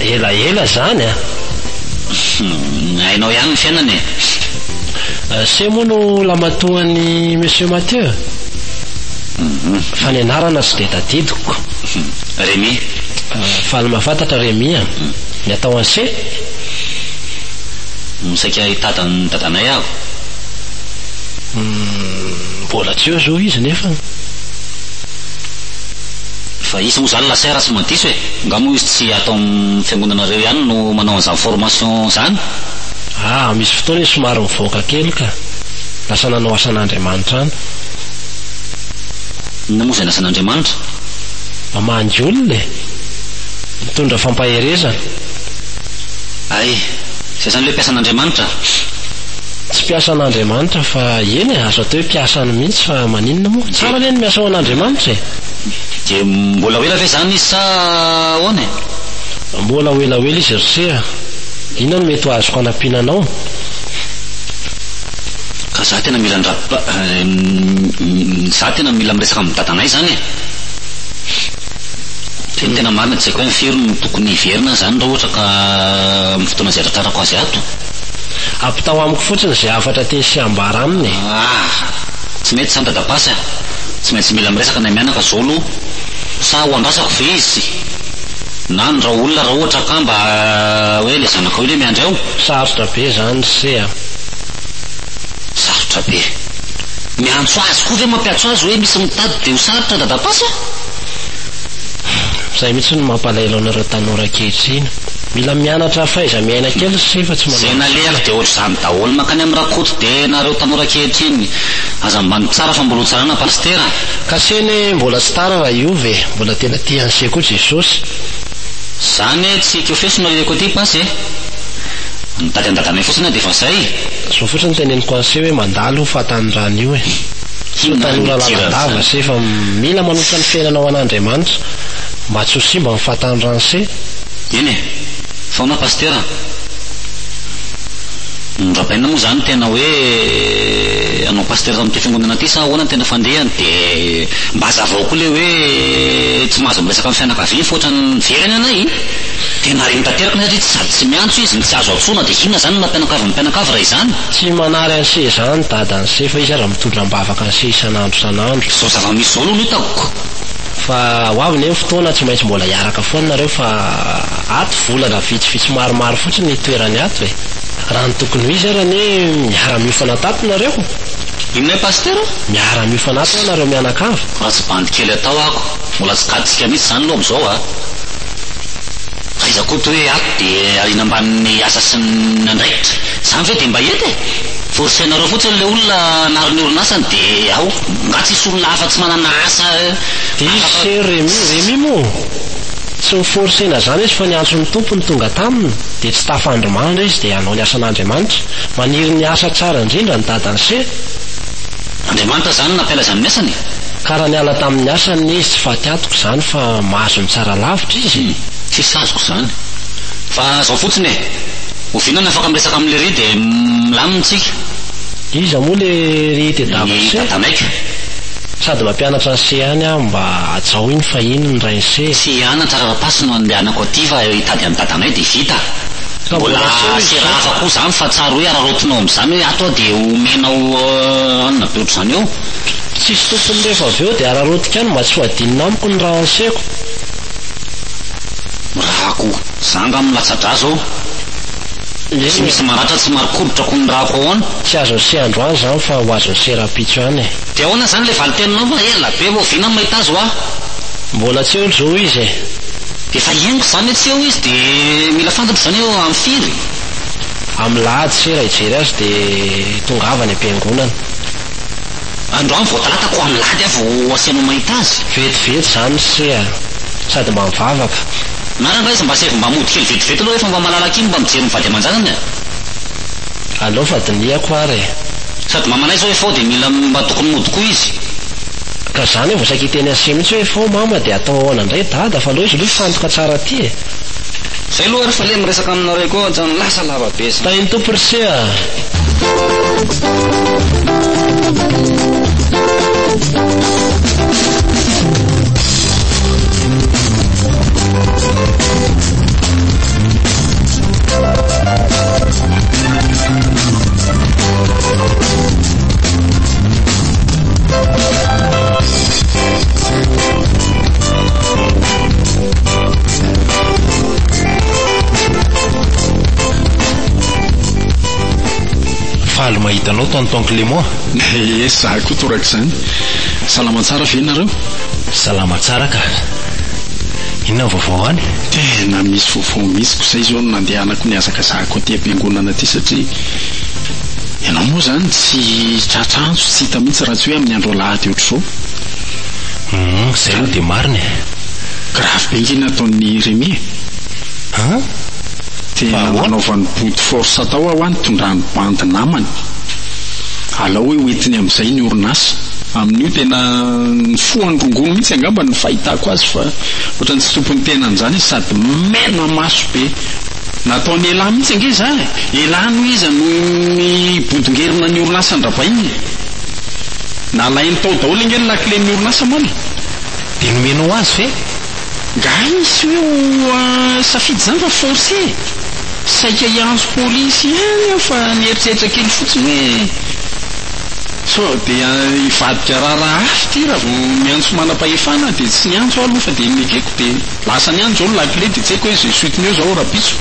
Ela ela zany a! Humm hainao ihany ny fiainana e! Ase moa no lamatoan'i Monsieur Mathieu? Humm. Fa ny anarana tsy dia tadidiko. Remy. Faly mahafantatra Remy a! Ny atao an'se? Humm saika hitady an'i dadanay aho. Humm mbola tsy eo zao izy nefa. Fa izy moa zany la sœur raha tsy mandiso e! Nga moa izy tsy ato amin'ny fiangonanareo ihany no manao an'izany formation izany? Ah, misy fotoana izy somary mivoaka kely ka! Lasa nanao asan'Andriamanitra any. Inona moa izany asan'Andriamanitra? Mamangy olona e! Mitondra fampaherezana. Hay! Izay izany ilay mpiasan'Andriamanitra? Tsy mpiasan'Andriamanitra fa, eny e, azo atao hoe mpiasany mihitsy fa. Fa maninona moa? Tsara anie ny miasa ho an'Andriamanitra e! Dia mbola ho ela ve izany izy sa ahoana e? Mbola ho ela ho ela izy ry se a! Inona no mety ho azoko hanampiana anao? Ka za tena mila ny ra pa, za tena mila miresaka amin'ny dadanay izany e! Dia ny tena marina tsy haiko hoe firy no tokony hiverina aho izany raha ohatra ka amin'ny fotoana izay tratrarako azy ato? Ampitaho amiko fotsiny izay hafatra tiany sy hambara aminy e! Aah! Tsy mety zany dadabasy a! Tsy maintsy mila miresaka ny amianaka zao aloha! Sa ho andrasako ve izy? Na ny raolona raha ohatra ka mba hoe le zanakao iny hoe miandry ao? Sarotra be zany se a! Sarotra be! Miantso azy koa ve mampiatso azy hoe misy mitady de ho sarotra dadabasy a! Zay mihitsy no mampalahelo anareo tanora ankehitriny! Mila mianatra fahaiza-miaina kely se fa tsy manao izany! Ze naleako de ohatr'izany! Daholo mankany am Rakoto be nareo tanora ankehitriny. Aza ambany tsara fa mbola ho tsarana Pasitera. Cachet ne mbola tsy tara raha hiova e, mbola tena tia an'se koa Jesosy. Zany e tsy kofeso no aleko aty Pasy e! Mitady an'i Dadanay fotsiny aho dia efa zay! Zao fotsiny no teneniko an'se hoe mandalo io fahatanorana io e! Tsy tanora lalandava se fa mila manotra ny fiainana ho an'Andriamanitra mba tsy ho simba ny fahatanorana se! Eny e! Foana Pasitera a! Norabaina moa zany tena hoe anao Pasitera tao amin'ity fiangonana ity sa ahoana ny tena fandehany de mba azavao koa le hoe tsy mahazo miresaka amin'ny fianakaviany fa ohatran'ny very any anay e! De marigny tanteraka ny satria tsy sady tsy miantso izy no tsy azo antsoina de inona zany ny maha mpianakavy ny mpianakavy raha izany? Tsy manary an'se zany dada an'se fa izy aza mitondra ambavaka an'se isan'andro isan'andro. Zao zava-misy zao aloha no hitako. Fa ho avy ne ny fotoana tsy maintsy mbola hiaraka foana nareo fa. Ato volana vitsivitsy maromaro fotsiny itoerany ato e! Raha ny tokony ho izy ary anie miara miofana tato nareo! Inona Pasitera? Miara miofana ato hoa nareo mianakavy! Atsy bandy kely atao ako, mbola tsy gadontsika mihitsy zany aloha amzao a! Aiza Koto hoe ato de ariana ambanin'ny asa sy ny andraikitra? Zany ve de mba hety e! Forcenareo fotsiny le olona hanary ny orinasany de ao! Nga tsisy olona hafa tsy manana asa afaka Diso ry Remy, Remy moa? Tsy noforsena izany izy fa ny antso ny Tompo no tonga taminy dia tsy tafandry mandry izy dia hanao ny asan'Andriamanitra. Maniry ny asa tsara indrindra ny dadany se. Andriamanitra izany nampialaiza amin'ny asany e. Ka raha niala tamin'ny asany ny izy tsy faty antoka izany fa mahazo ny tsara lavitra izy e. Tsisy azoko izany. Fa izao fotsiny e. Oviana no afaka miresaka amin'i lery dia milamina isika. Iza moa le ry tedavy se? Ny dadanay ka. Sady mampianatra an'se ihany aho mba hajao iny fa iny ny Ese. Tsy ana Tsararapasy no andehanako aty fa hitady an'i dadanay dia vita. Mbola serahafa koa izany fa tsary hoe araraotinao amin'izany hoe ato aho dia homenao anona be ohatr'izany eo. Tsisy tompony rehefa avy eo dia araraotiko any mba tsy ho adinina amiko ny raha anseko. Mirahako. Za angaha no latsa-drà izao? Tsy misy maratra tsy marikoditra koa ny ràko ahoana? Tsy azon'i Seandro any izany fa ho azon'i Serampitso ihany e. De ahoana zany le valin-teninao ma ela be oviana no mahita azy hoa? Mbola tsy eo lzo izy e. Efa henoko zany hoe tsy eo izy de mila fantatro zany hoe eo am firy? Am lahady se raha hijery azy de tongava any am-piangonana. Androany vao talata ko alahady aho vao asianao mahita azy. Vetivety zany se a! Sady mba mivavaka. Narany ra izy mba saivo mba mody kely vetivety aloha refa mba malalaka iny mba mijery ny vady aman-janany a! Aleo fa dinihako ary e! Sady mamanay zao FO dia mila mba tokony mody koa izy. Ka zany vao saika hiteny an'se mihitsy hoe FO mama dia atao ahoana indray dada fa aleo izy aloha hifantoka tsara aty e! Zay aloha ary f'aleo miresaka aminareo koa hatrany lasa lava be zany. Tahin'ny Tompo r'ise a! Faly mahita anao tonton Clément. Ye, za koa torak'izany. Salama tsara ve nareo? Salama tsara ka. Inona ny vaovao any? Tena misy vaovao. Vao misy ko zay zao no nandehanako nihazakazahako aty am-piangonana aty satria ianao moa zany tsy tratra antso tsy hita mihitsy raha tsy hoe amin'ny andro alahady ohatr'izao. Humm izay aloha dia marina e. Grave be nge ny ataon'i Remy e. An? Dia nampanaovany body force tao aho an tondrany bandy namany. Alao hoe hoentiny amin'izay ny orinasa. Amin'io tena nifoha ny rongony mihitsy angamba ny fahitako azy fa. Ohatran'ny tsy tompon'ny tenany izany izy sady mena maso be. Nataon'i Elah mihitsy ange izany e! Elah no iza no nibodongerona ny orinasan-dRabain e! Nalainy tao daholo ange ny lakilen'ny orinasa moana e! Dia nomena ho azy ve? Nga hisy hoe ho safidy izany fa force e! Saika hiantso polisy ihany aho fa nieritreritra kely fotsiny hoe. Sao dia hivadika raharaha hafa ity raha vao miantso manam-pahefana dia tsy niantso aho aloha fa dia nekeko dia lasa niany izao ny lakile dia tsy haiko hoe izay suite-ny eo izao rahampitso.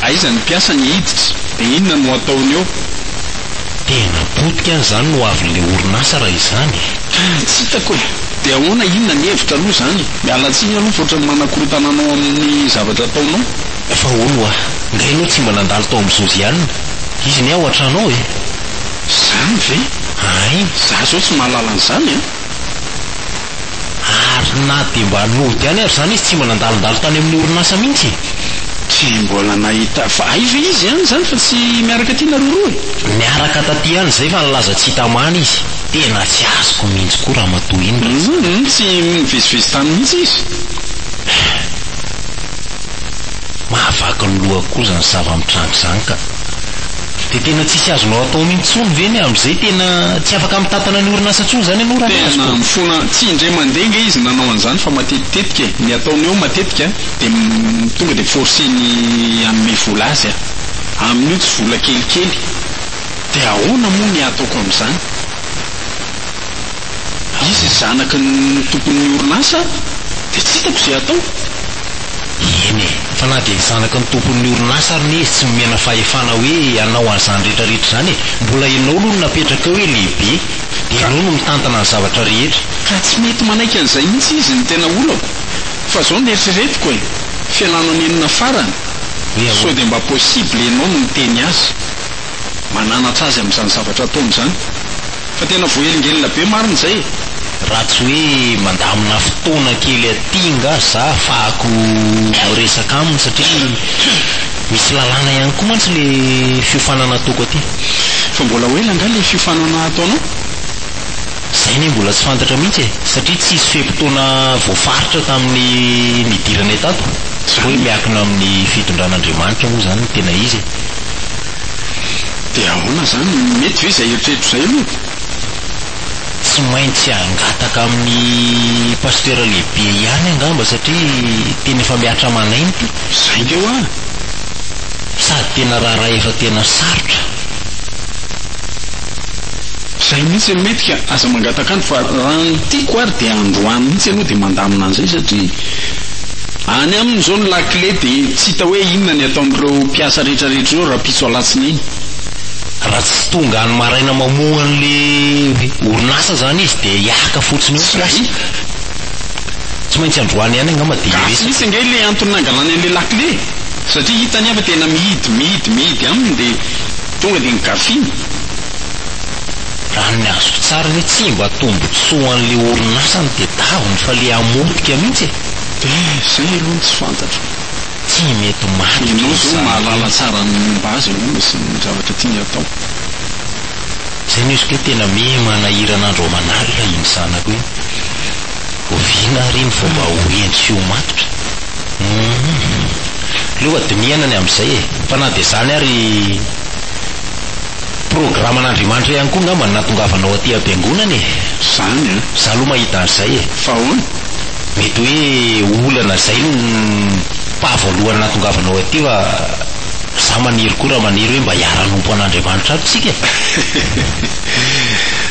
Aiza ny mpiasa ny hiditra dia inona no ataony eo. Tena potika any izany ny ho avin'ilay orinasa raha izany e. Tsy hitako e. Dia ahoana inona ny hevitra aloha izany. Miala tsiny aloha fa ohatran'ny manakorontana anao amin'ny zavatra ataonao. Fa hono hoa. Nga ianao tsy mba nandalo tao amin'i Josiane? Izy anie ao an-trano ao e! Izany ve? Ay! Izaho izao tsy mahalala an'izany an! Ary na dia mba nody ihany ary izany izy tsy mba nandalondalo tany amin'ny orinasa mihitsy e! Tsy mbola nahita, fa ay ve izy ihany izany fa tsy miaraka aty nareo roa e? Niaraka taty ihany izay fa nilaza tsy hita man izy. Tena tsy azoko mihitsy koa ramatoa iny raha tsy. Hum! Tsy nivezivezy tany mihitsy izy? Mahavaky ny loha koa izany zava-mitranga izany ka! Dia tena tsisy azonao atao mihintsy intsony ve ny amin'izay? Tena tsy afaka mitantana ny orinasa intsony izany ianao raha ny azoko? Tena mifona, tsy indray mandeha nga izy nanao an'izany fa matetitetika e! Ny ataony eo matetika dia tonga dia forceny hanome vola azy a! Amin'io tsy vola kelikely! Dia ahoana moa ny hataoko amin'izany? Izy zanaky ny tompon'ny orinasa dia tsy hitako izay hataoko. Eny e! Fa na dia zanaky ny tompon'ny orinasa ary ne izy tsy nomena fahefana hoe hanao an'izany rehetra rehetra izany e! Mbola ianao aloha no napetraka eo hoe lehibe, dia ianao no mitantana ny zavatra rehetra. Ka tsy mety manaiky an'izay mihitsy izy no tena olako fa izao no eritreretiko e! Fialana nenina farany! Hoe ahoana? Sao dia mba possible ianao no niteny azy? mananatra azy amin'izany zavatra ataony izany. Fa tena voahelingelina be marina izay e! Raha tsy hoe mandamina fotoana kely aty nga za afahako miresaka aminy satria misy lalàna ihany koa mantsy le fiofanana ataoko aty. Fa mbola ho ela nga le fiofanana ataonao? Izay anie mbola tsy fantatra mihitsy e, satria tsy hisy fe-potoana voafaritra tamin'ny nidirana etato, tsy hoe miankina amin'ny fitondran'Andriamanitra moa izany ny tena izy e. Dia ahoana izany, mety ve izay eritreritro izay aloha e? Tsy maintsy hangataka amin'ny Pasitera lehibe ihany angamba satria tena efa mihatra aman'aina ity. Izay nge hoa! Sady tena raharaha efa tena sarotra. Zay mihitsy no mety ka aza mangataka andro fa raha ny tiako ary dia androany mihitsy ianao dia mandamina an'izay satria any aminy izao ny lakile dia tsy hita hoe inona ny ataon'ireo mpiasa rehetra rehetra ireo rahampitso alatsinainy. Raha tsy tonga any maraina mamoha an'le orinasa zany izy dia hiaka fotsiny eo ny mpiasa. Zay. Tsy maintsy androany ihany angamba dia hiresaka. Gasy mihitsy ange ilay antony nangalany an'ilay lakile satria hitany aho fa tena mihidy mihidy mihidy aminy dia. Tonga dia nogafiana? Raha ny azoko tsara anie tsy mba tombotsoa an'le orinasa ny tedavony fa le hamotika mihitsy e! Eh, zay aloha no tsy fantatro. Tsy mety maty izy zany. Ianao zao mahalala tsara ny momba azy angamba sy ny zavatra tiany hatao. Zay no izy koa tena miha manahirana andro aman'alina iny zanako iny. Oviana àry iny vao mba ho heno sy ho matotra? Humm. Leo a dinihana ny amin'izay e. Fa na dia izany ary, programan'Andriamanitra ihany koa angamba ny nahatongavanao aty am-piangonana e. Izany an. Izaho aloha mahita an'izay e. Fa ahoana? Mety hoe olana izay no paha voalohany nahatongavanao aty fa izaho maniry koa raha maniry hoe mba hiara-hanompo an'Andriamanitra aby isika e.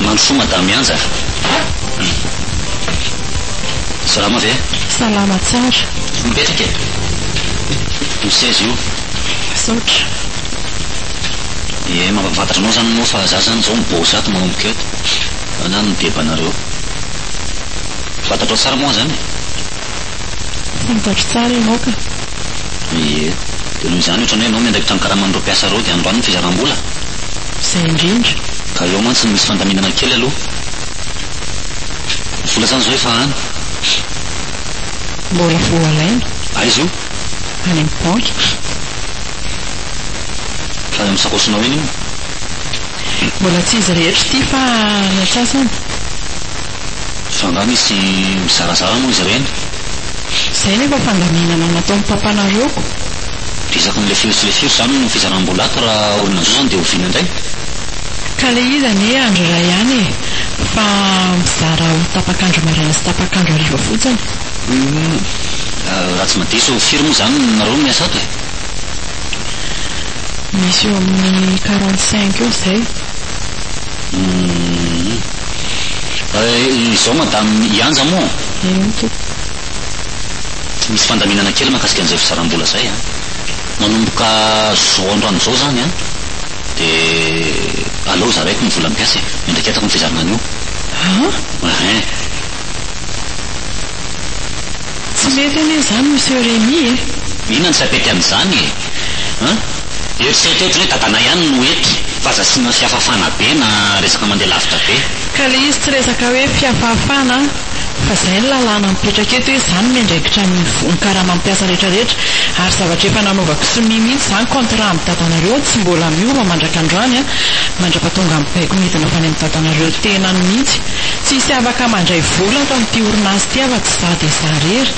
Mandrosoa madame Yanja a! Salama ve? Salama tsara. Mipetraka e! Misy seza io. Misaotra. Ie mampahafantatra anao zany moa fa za zany zao mibosa ato manomboka eto. Anah no mideba anareo. Fantatrao tsara moa izany e! Fantatro tsara ianao ka! Ie. Dia noho izany ohatran'ny hoe ianao miandraikitra ny karaman'ireo mpiasa ireo dia androany ny fizaram-bola? Izay indrindra! Ka eo mantsy no misy fandaminana kely aloha. Ny vola izany izao efa any. Mbola vao alaina. Aiza io? Any amin'ny banky. Fa any amin'ny sakaosinao eny io? Mbola tsy izy rehetra ity fa ny antsasany. Fa angaha misy mizarazara moa izy ireny? Izay nefa fandaminana nataon'ny papanareo. Resaka ny lefero sy lefero izany no fizaram-boalaka raha olona zo izany dia oviana indray? Ka le izy anie andro iray ihany e! Fa mizara ho tapak'andro maraina sy tapak'andro hariva fotsiny. Humm. Raha tsy madiso firy moa izany nareo miasa ato e? Misy eo amin'ny quarante cinq eo izay. Izao Madame Ianja moa. Eny tompoko. Misy fandaminana kely mahakasika an'izay fizaram-bola izay an. Manomboka izao androany izao izany an, dia aleo zaraiko ny vola mpiasa e. Miandraketako ny fizarana an'io. An? Ehe. Tsy mety anie izany Monsieur Rémi e! Inona no tsy apety amin'izany e? An! Eritrereto hoe hoe dadanay ihany no hety fa aza asiana fihafafana be na resaka mandeha lavitra be. Ka le izy tsy resaka hoe fihafahafana an! Fa zay ny lalàna mipetraka eto hoe za no miandraikitra ny ny karamam piasa rehetra rehetra ary zavatra efa nanaovako sonia mihitsy zany contrat am dadanareo tsy mbola miova mandraka androany an! Mandrapa tonga mibaiko midina fany am dadanareo tenany mihitsy! Tsy hisy afaka mandray vola ato am ty orinasa ty afa Za dia za rery.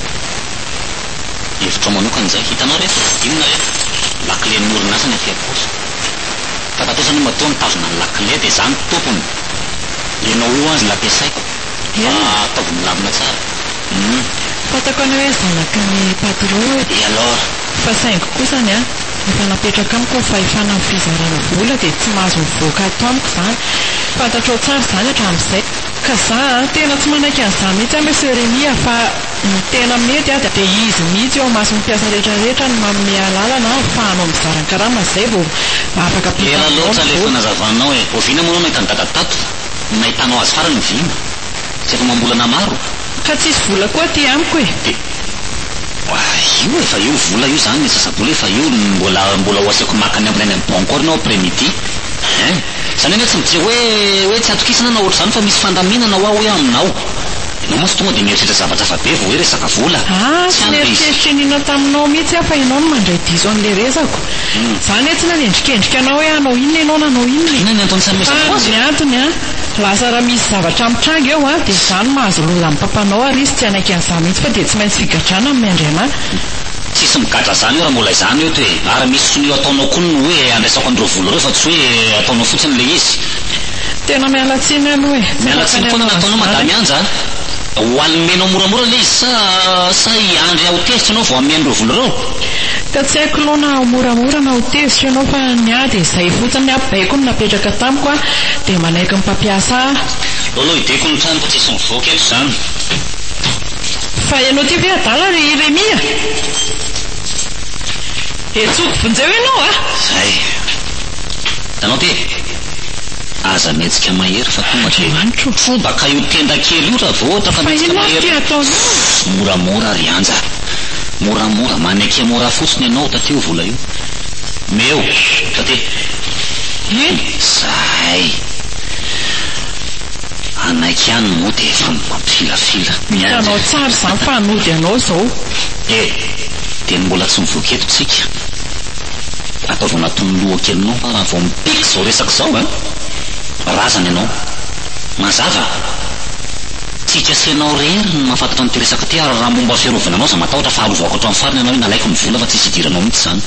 Hevitrao manokana izay. Hitanao re, inona re? Lakilen'ny orinasa ny aty ampora. Tatatesany matoa mitazona ny lakile dia za ny tompony. Ianao io azy ny ampiasaiko fa ataovy milamina tsara. Hum. Fantako anao hoe zanaky ny patron e. Et alors? Fa saingy kosa ny ahy, efa napetraka amiko ny fahefana amin'ny fizarana vola dia tsy mahazo mivoaka ato amiko izany. Fantatrao tsara izany hatramin'izay. Ka za a, tena tsy manaiky an'izany mihitsy aho Monsieur Rémi a, fa ny tena mety a, dia izy mihitsy eo imason'ny mpiasa rehetra rehetra no manome alalana ahafahanao mizara ny karama zay vao afaka ampita Ela aminao loatra ny le vola. fanazavanao e! Oviana moa ianao nahita an'i dada tato? Nahitanao azy farany oviana? Tsy efa amam-bolana maro? Ka tsisy vola koa aty amiko e! Dia Oay! Io efa eo vola io zany ny sasa-bola efa eo, mbola mbola ho asiako maka ny ambiny any amin'ny banky koa ary ny ao après midi ein! Izany anie tsy mijery hoe hoe tsy atokisana na ohatr'izany fa misy fandaminana hoa hoe aminao. Ianao mantsy tonga dia mieritreritra zavatra hafa be vao hoe resaka vola. Ah, tsy nieritreritra iniana taminao mihitsy aho fa ianao no mandray diso an'ilay resako. Izaho anie tsy nanendrikendrika anao hoe hanao inona ianao nanao inona e. Inona ny antony tsy hanomezako azy? Fa ny antony an, lasa raha misy zavatra mitranga eo an, dia izaho no mahazo loza amin'ny papanao ary izy tsy hanaiky an'izany mihitsy fa dia tsy maintsy figadrana amin'ny Andriana. Tsisy migadra zany io ra mbola izany eo to e! Ary misy sonia io ataonao koa ny hoe andraisako an'ireo vola ireo fa tsy hoe ataonao fotsiny ilay izy. Tena miala tsiny aloha e. Tsy afaka ny hanaovana izany. Miala tsiny foana ny ataonao Madame Anja a. Ho almenao moramora ilay izy sa sa hiandry aho ho tezitra ianao vao hamea an'ireo vola ireo? Ka tsy haiko aloha na ho moramora na ho tezitra ianao fa ny ahy dia izay fotsiny ny apobaiko no napetraka tamiko a, dia manaiky ny mpampiasa ahy. Lolo hideko ny tranoko tsisy mivoaka eto izany. Fa ianao ity ve adala ry Remia? Hetsoko vonjeo ianao a! Zay! Hitanao ty e! Aza mihetsika mahery fa tonga ry Andriamanitro! Trobaka io tenda kely io raha vao ohatra ka mihetsika mahery! Fa inona ary ity ataonao a! Moramora ry Anja! Moramora! Maneke mora fotsiny ianao taty io vola io! Omeo! Taty! Eny! Zay! Hanaiky ihany moa dia efa mampifilafila. Hitanao tsara izany fa hanody anao izao. E! Dia ny mbola tsy mivoaka eto tsika. Ataovy anatin'ny lohakelinao fa raha vao mipiky izao resaka izao a! Razana ianao. Mazava? Tsy hikasa ianao irery ny mahafantatra an'ity resaka ity ary raha momba fiarovana anao izaho matahotra fa harovako hatramin'ny farany ianao inalaiko ny vola fa tsisy hidiranao mihitsy izany.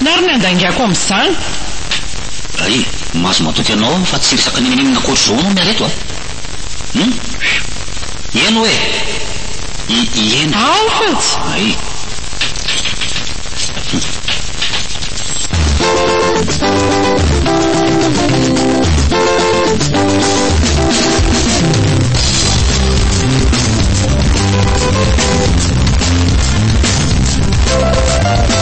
Na ary ny handaingako amin'izany. Ry, mahazo matoky anao aho fa tsy resaka ninoninona ankoatr'izao anao miala eto a! Hum! Hum! Ieno e! I, ieno. Aho fotsy! Ay! Hum!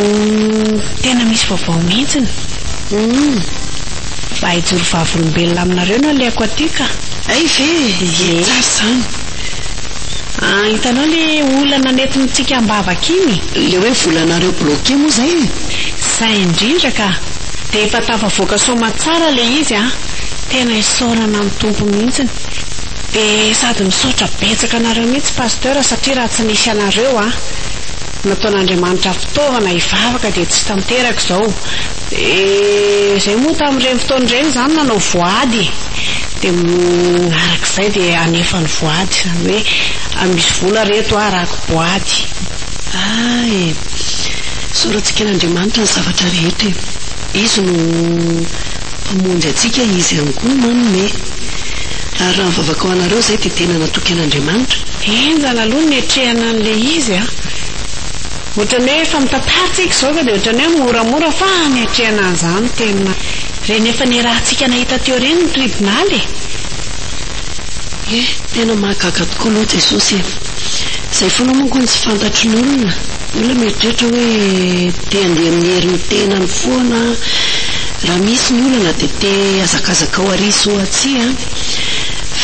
Uhm tena misy vaovao mihintsiny. Uhm mba hijoro vavolombelona aminareo no alehako aty ka. Hay ve e! Dia tsara izany. Ah hitanao le olana nentintsika ambavaka iny? Le hoe volanareo bloqué moa izay e! Izay indrindra ka! Dia efa tafavoaka soamatsara le izy a! Tena isaorana ny Tompo mihintsiny. De sady misaotra betsaka anareo mihitsy Pasteur satria raha tsy nisy anareo a nataon'Andriamanitra fitaovana hivavaka dia tsy tanteraka izao de zay moa tamin'ireny fotoana ireny izaho no nanao voady de arak'izay de hanefa ny voady izany hoe misy vola re eto a arahako boady. Ah eh. Soratsikan'Andriamanitra ny zavatra rehetra e. Izy no Mpamonjy antsika, Izy ihany koa manome. Ary raha ny vavakao anareo, izay dia tena natoky an'Andriamanitra. Henjana aloha ny niatrehana an'ilay izy a! Ohatran'ny hoe efa mitantara tsika izao ka dia ohatran'ny hoe moramora fa niatrehana an'izany tena. Ireny efa niarahantsika nahita teo ireny ny tribonaly e! Ie, tena mahagaga tokoa aloha Jesosy e! Izay foana moa koa no tsy fantatry ny olona. Olona mieritreritra hoe te handeha amin'ny herin'ny tenany foana, raha misy ny olana dia te hazakazaka ho ary sy ho atsy an!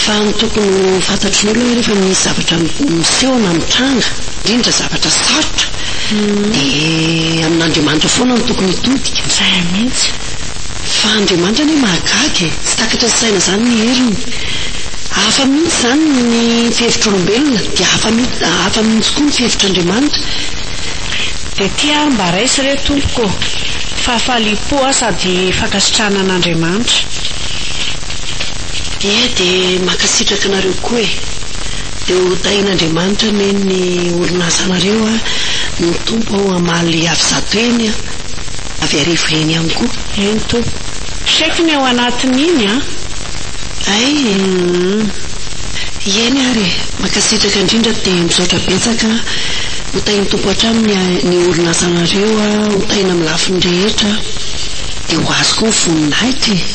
Fa ny tokony ho fantatry ny olona hoe rehefa misy zavatra miseho na mitranga, indrindra zavatra sarotra, dia amin'Andriamanitra foana no tokony hitodika. Izay mihitsy. Fa Andriamanitra anie mahagaga e! Tsy takatry ny saina izany ny heriny. Hafa mihitsy izany ny fihevitr'olombelona dia hafa mihitsy hafa mihitsy koa ny fihevitr'Andriamanitra. Dia ty ary mba raiso re tompoko ô! Fahafaliam-po aho sady fankasitrahana an'Andriamanitra. Ie dia mankasitraka anareo koa e! Dia ho tahin'Andriamanitra anie ny orin'asanareo a! Ny Tompo hamaly avizato eny a! avy arivo yen ihany koa. Eny toa. Chèque ny ao anatiny iny an! Hay e! Umm. Eny ary e! Mankasitraka indrindra dia misaotra betsaka an! Ho tahin'ny Tompo hatrany ny ny orinasanareo an! Ho tahina amin'ny lafiny rehetra an! Dia ho azy koa ny voninahitra e!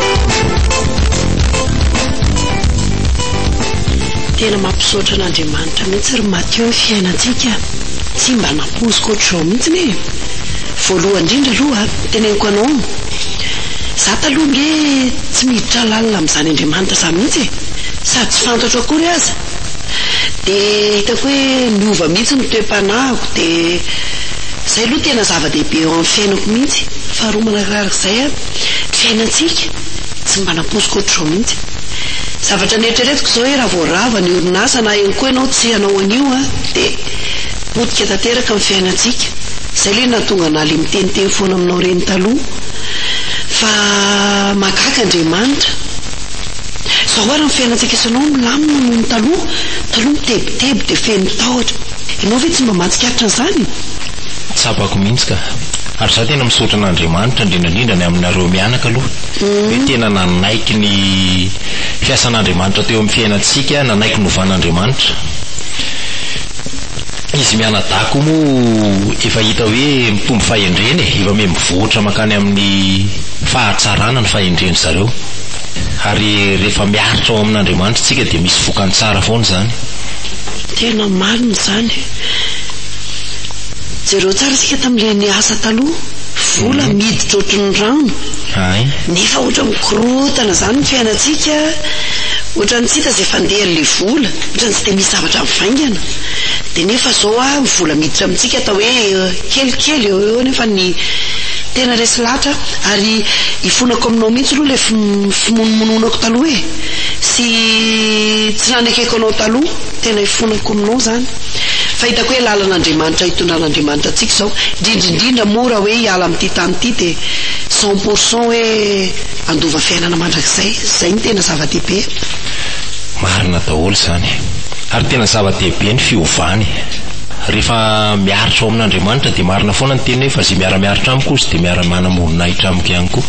Tena mampisaotra an'Andriamanitra mihitsy ry Mathieu ny fiainantsika tsy mba nampoiziko ohatr'izao mihitsy e! Voalohany indrindra aloha teneniko anao za taloha nge tsy miditra lalina amin'izany Andriamanitra izany mihitsy e! Sady tsy fantatro akory aza! Dia hitako hoe niova mihitsy ny toe-panahiko dia izay aloha tena zava-dehibe eo amin'ny fiainako mihitsy! Faharoa manararak'izay Fiainantsika tsy mba nampoiziko ohatr'izao mihitsy. Zavatra neritreretiko izao hoe raha vao rava ny orinasa na eo koa ianao tsy hanao an'io an, dia potika tanteraka ny fiainantsika. Izay ilay nahatonga anah ilay miteniteny foana aminao ireny taloha fa mahagaga Andriamanitra. Izao ary ny fiainantsika sy anao milamina noho ny taloha. Taloha mitebiteby dia feno tahotra. Ianao ve tsy mba mahatsikaritra an'izany? Tsapako mihitsy ka. Ary za tena misaotra an'Andriamanitra indrindra indrindra ny aminareo mianaka aloha hoe tena nanaiky ny fiasan'Andriamanitra teo amin'ny fiainantsika, nanaiky novan'Andriamanitra. Izy mianadahy koa moa efa hita hoe mitombo fahendrena e, efa miha mivoatra mankany amin'ny fahatsarana ny fahendren-dry zareo. Ary rehefa miaritra ao amin'Andriamanitra isika dia misy vokany tsara foana izany. Tena marina izany. Jereo tsara isika tamin'ireny asa taloha, vola miditra ohatry ny rano, nefa ohatran'ny mikorontana izany ny fiainantsika, ohatran'ny tsy hita izay fandehan'ilay vola, ohatran'ny tsy dia misy zavatra mivaingana. Dia nefa izao an, ny vola miditra amintsika atao hoe kelikely eo ho eo nefa ny tena resy lahatra ary ifonako aminao mihitsy aloha ilay fimonomononako taloha e, sy tsy nanekeko anao taloha, tena ifonako. kominao izany fa hitako hoe lalan'Andriamanitra hitondran'Andriamanitra antsika izao, indrindra indrindra moa raha hoe hiala amin'ity tany ity dia cent pour cent hoe handova fiainana mandrakizay, izay no tena zava-dehibe e! Marina daholo izany, ary tena zava-dehibe ny fiovana e! Rehefa miaritra ao amin'Andriamanitra dia marina foana ny teniny hoe fa ze miara-miaritra amiko hozy dia miara-manam-boninahitra amiko ihany koa,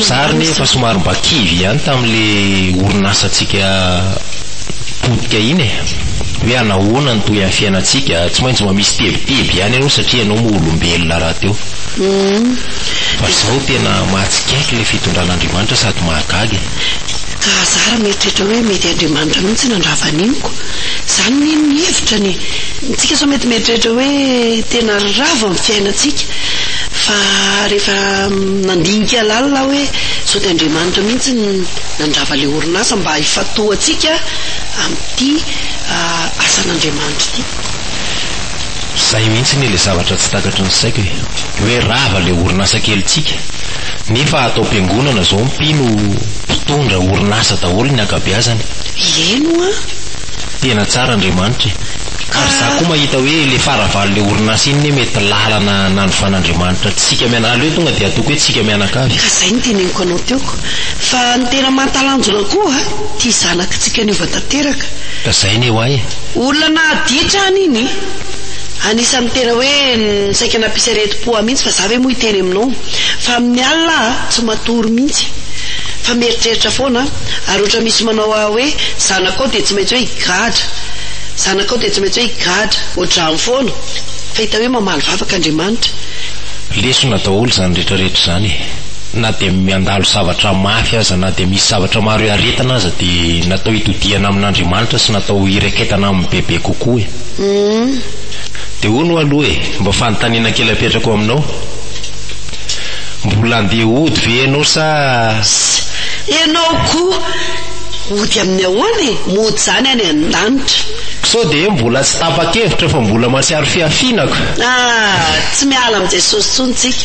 za ary nefa somary mba kivy ihany tamin'ilay orin'asantsika potika iny e! Hoe anahoana ny tohin'ny fiainantsika, tsy maintsy mba misy tebiteby ihany aloha satria ianao moa olombelona rahateo. Fa zao tena mahatsikaiky ilay fitondran'Andriamanitra sady mahagaga e! Ka za raha mieritreritra hoe mety Andriamanitra mihitsy nandrava an'iny ko! Zany anie ny hevitra ny tsika sao mety mieritreritra hoe tena ravo amin'ny fiainantsika fa rehefa nandinika lalina aho hoe sao dia Andriamanitra mihitsy nandrava ilay Orinasa mba hifantohantsika amin'ity asan'Andriamanitra ity. Zay mihitsy anie le zavatra tsy takatry ny saiko e! Hoe rava le orinasa kelintsika nefa ato am-piangonana zao mpino mpitondra orinasa daholo ny ankabeazany. Eny hoa. Tena tsara Andriamanitra e! Ary za koa mahita hoe le faravalon le orinasa iny ne mety lalana nanovan'Andriamanitra antsika miana aleo tonga de ataoko hoe tsika mianakavy. Ka zay no teneniko anao teo ko. Fa ny tena mahatalanjona koa ity zanakitsika niova tanteraka. Lazainy eo ay e. Olona nahaditra an iny. Anisan'ny tena hoe saika nampisy aretim-po ahy mihitsy fa za ve moa hiteny aminao. Fa amin'ny alina aho tsy matory mihitsy fa mieritreritra foana ary ohatra misy manao ahy hoe zanakao dia tsy maintsy hoe higadra, zanakao dia tsy maintsy hoe higadra. Ohatr'izany foana. Fa hita hoe mamaly vavaka Andriamanitra. Lesona daholo izany retraretra izany e. na dia miandalo zavatra mafy aza, na dia misy zavatra maro iaretana aza dia natao hitodihana amin'Andriamanitra sy natao hireketana aminy bebe kokoa e. Dia hono ho'a aloha e, mba fanontaniana kely apetrako aminao, mbola andeha hody ve ianao sa. Sy ianao koa, hody amin'ny ahoana e, mody izany any an-danitra. Sao dia hoe mbola tsy tapa-kevitra fa mbola mahatsiaro fihafiana ka. Ah, tsy miala amin'i Jesosy intsony tsika.